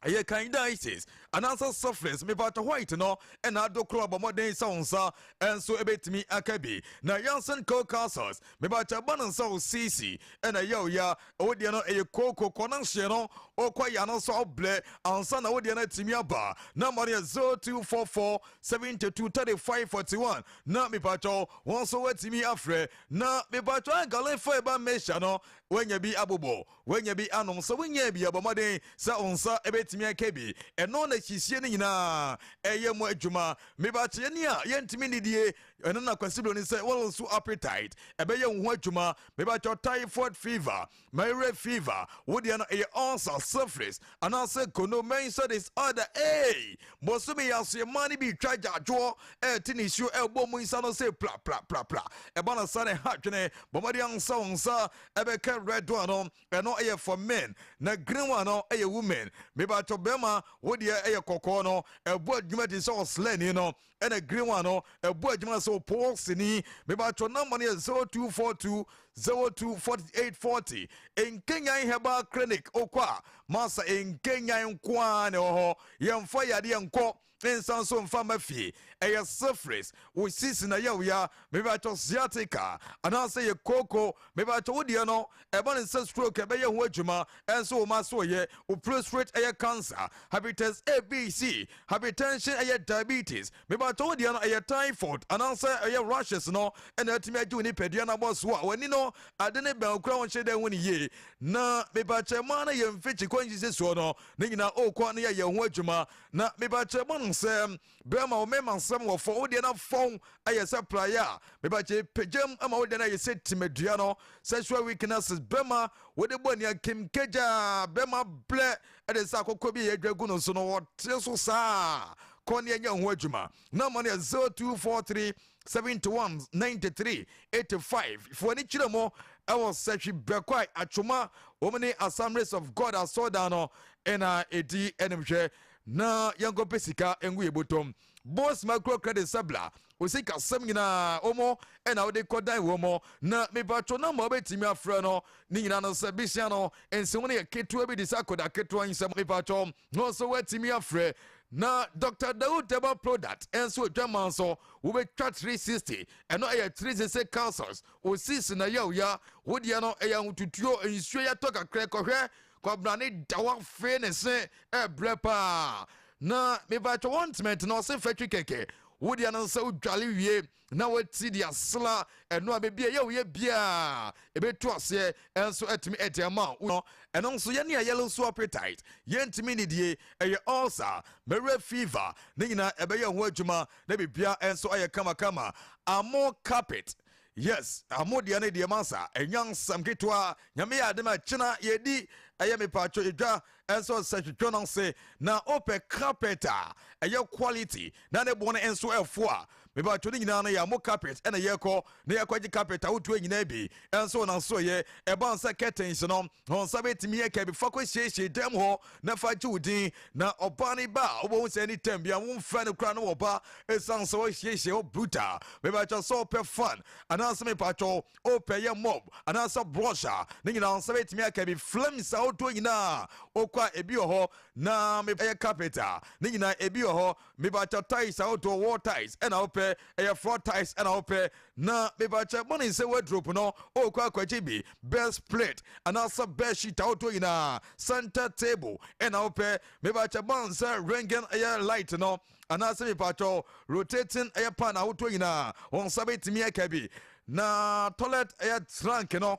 ɛyɛ candidiasis anaasɛ syphilis mepatɔ white no ɛna ado korɔ bɔ mmɔden sɛ wo nsa ɛnso ɛbɛtumi aka bi na yansen cocasas mepatɔ ɛba no nsa wo sisi ɛna ɛyɛ wo ya wo deɛ no ɛyɛ kooko kɔ no nhyeɛ no wokɔ ya no nso ɔblɛ ansa na wo deɛ no atumi aba na ma no yɛ 0244 72 35 41 na mepatɔ wɔn nso woatumi afrɛ na mepatɔ agalefa ɛba mmɛhyia no woanya bi abobɔ Woanya bi anom? Sɛ wonyaa bi a, bɔ mmɔden sɛ wo nsa bɛtumi aka bi. Ɛno na siesie no nyinaa yɛ mu adwuma. Me ba kyɛ yɛne a yɛntumi nnidie, ɛno na Kwasi Broni sɛ wo low appetite ɛbɛyɛ wo ho adwuma. Me ba kyɛ typhoid fever, malaria fever, wo deɛ no ɛyɛ ulcer, syphilis, anaasɛ kono, menstrual disorder, eei! Bosome yi aseɛ mmaa no bi retwa agyaadwoɔ, ɛrete nisuo ɛrebɔ mu nsa no sɛ pla pla pla pla. Ɛba no saa na ɛha adwene. Bɔ mmɔden ansa wo nsa ɛbɛka red one no ɛno ɛyɛ for men na green one no ɛyɛ women mebatɔ bɛrima wo deɛ ɛyɛ kɔkɔɔ no ɛbɔ adwuma te sɛ ɔslɛni no ɛna green one no ɛbɔ adwuma sɛ ɔpɔɔsini mebatɔ namba no yɛ 0242 024840 nkenyan herbal clinic okɔ a masa nkenyan nkoaa na ɛwɔ hɔ yɛmfa yadeɛ nkɔ Ne nsa nso mfa mma fie. Ɛyɛ syphilis, wo sisi na ɛyɛ wo ya, mepakyɛw sciatica anaasɛ ɛyɛ kooko, mepakyɛw wo deɛ no ɛba ne sɛ stroke ɛbɛyɛ ho adwuma, ɛnso wo mma so ɛyɛ, wo prostate ɛyɛ cancer, hepatitis A, B, C, hypertension ɛyɛ diabetes, mepakyɛw wo deɛ no ɛyɛ typhoid anaasɛ ɛyɛ rashes no ɛna atumi agye wo nipadua no abɔ so a w'ani no ade ne bɛn okura wo nhyɛ dɛ hu ne yie na mepakyɛw mmaa no yɛ mfikyi kɔ nsisi soɔ no ne nyinaa ɔɔkɔ ne yɛyɛ ho adwuma Na meba kyerɛ mo no sɛ berɛ ma wo mema nsɛm wɔ fɔn wo deɛ na fɔn ayɛ sɛ praeɛ a meba kyerɛ pagyam ma wo deɛ na ayɛ sɛ timadua no sexual weaknesses berɛ ma wode bɔ ani akim kagyaa berɛ ma blɛ ɛde sɛ akɔkɔ bi yɛ adwa gu no so no wɔte so saa kɔ ne ɛnyɛ ho adwuma na ma no yɛ 0243 71 93 85 fo ani kyerɛ mu ɛwɔ sɛhwi bɛkwae atwoma wɔn ne assemblies of god asɔɔdan no ɛna ɛdi anim hwɛ na yɛnkɔpɛ sika ngu yɛ botom bos macro credit sabla osika sɛm nyinaa wɔn ɛna wode kɔdan wɔn mo na mepatwo na ma wobɛtumi afrɛ no ne nyinaa no sɛ bisia no nsi ho no yɛ ketewa bi de sɛ akɔda ketewa nsɛm mepatwo no nso woatumi afrɛ Na Doctor Daoud Deba Proudat nso Adwaman so wobɛtwa three sixty, ɛno ɛyɛ three sixty councils, ɔsii so na yawya, wo deɛ no ɛyɛ ahotutuo, nsuo yɛ tɔ kakra, kɔhwɛ Kwabrane da hɔ afee ne se ɛbrɛ paa, na mebatwa wɔn ntment na ɔse fɛtwe kɛkɛ, wo deɛ no sɛ wodwale wie. na wati de asla ɛno a baabi a ɛyɛ wo yɛ biara ɛbɛtu aseɛ ɛnso atumi ɛde ama wo ɛno nso yɛne a yellow so appetite yɛntumi nnidie ɛyɛ ulcer mɛwerɛ fever ne nyinaa ɛbɛyɛ ho adwuma na biribiara ɛnso ayɛ kamakama amo carpet yes amo deɛ no deɛ masa ɛnyansam ketewa nyame yɛ ade ma kyena yɛdi ɛyɛ mepatwo edwa Nso sɛ hwehwɛ no ase na wopɛ carpet a ɛyɛ quality na ne bo no nso ɛfo a, mebatwo ne nyinaa no yɛ amo carpet ɛna yɛkɔ na yɛkɔgye carpet ahodoɔ nyinaa bi. Nso na nso yɛ ɛba no sɛ curtains no wɔn nsa bɛtumi aka bi fa kɔ siesie dan mu hɔ na fa gye wo din na ɔbaa no ba a wobɛhu sɛ anytime bia wo mfrɛ no koraa na wɔba ɛsiane sɛ wɔasiesie hɔ brutal. Mebatwo sɛ wopɛ fan anaasɛ mebatwo wopɛ yɛ mob anaasɛ brush a ne nyinaa wo nsa bɛtumi aka bi flames ahodoɔ nyinaa wokɔ a ebi wɔ hɔ na ɛyɛ carpet a ne nyinaa ebi wɔ hɔ mebakyɛ tiles ahodoɔ wall tiles ɛna wopɛ ɛyɛ floor tiles ɛna wopɛ na mebakyɛ mɔne sɛ wardrobe no wokɔ akwagye bi best plate anaasɛ best sheet ahodoɔ nyinaa center table ɛna wopɛ mebakyɛ mɔne sɛ ringing ɛyɛ light no anaasɛ mepaatwɔ rotating ɛyɛ pan ahodoɔ nyinaa wɔn nsa bɛtumi aka bi na toilet ɛyɛ trank no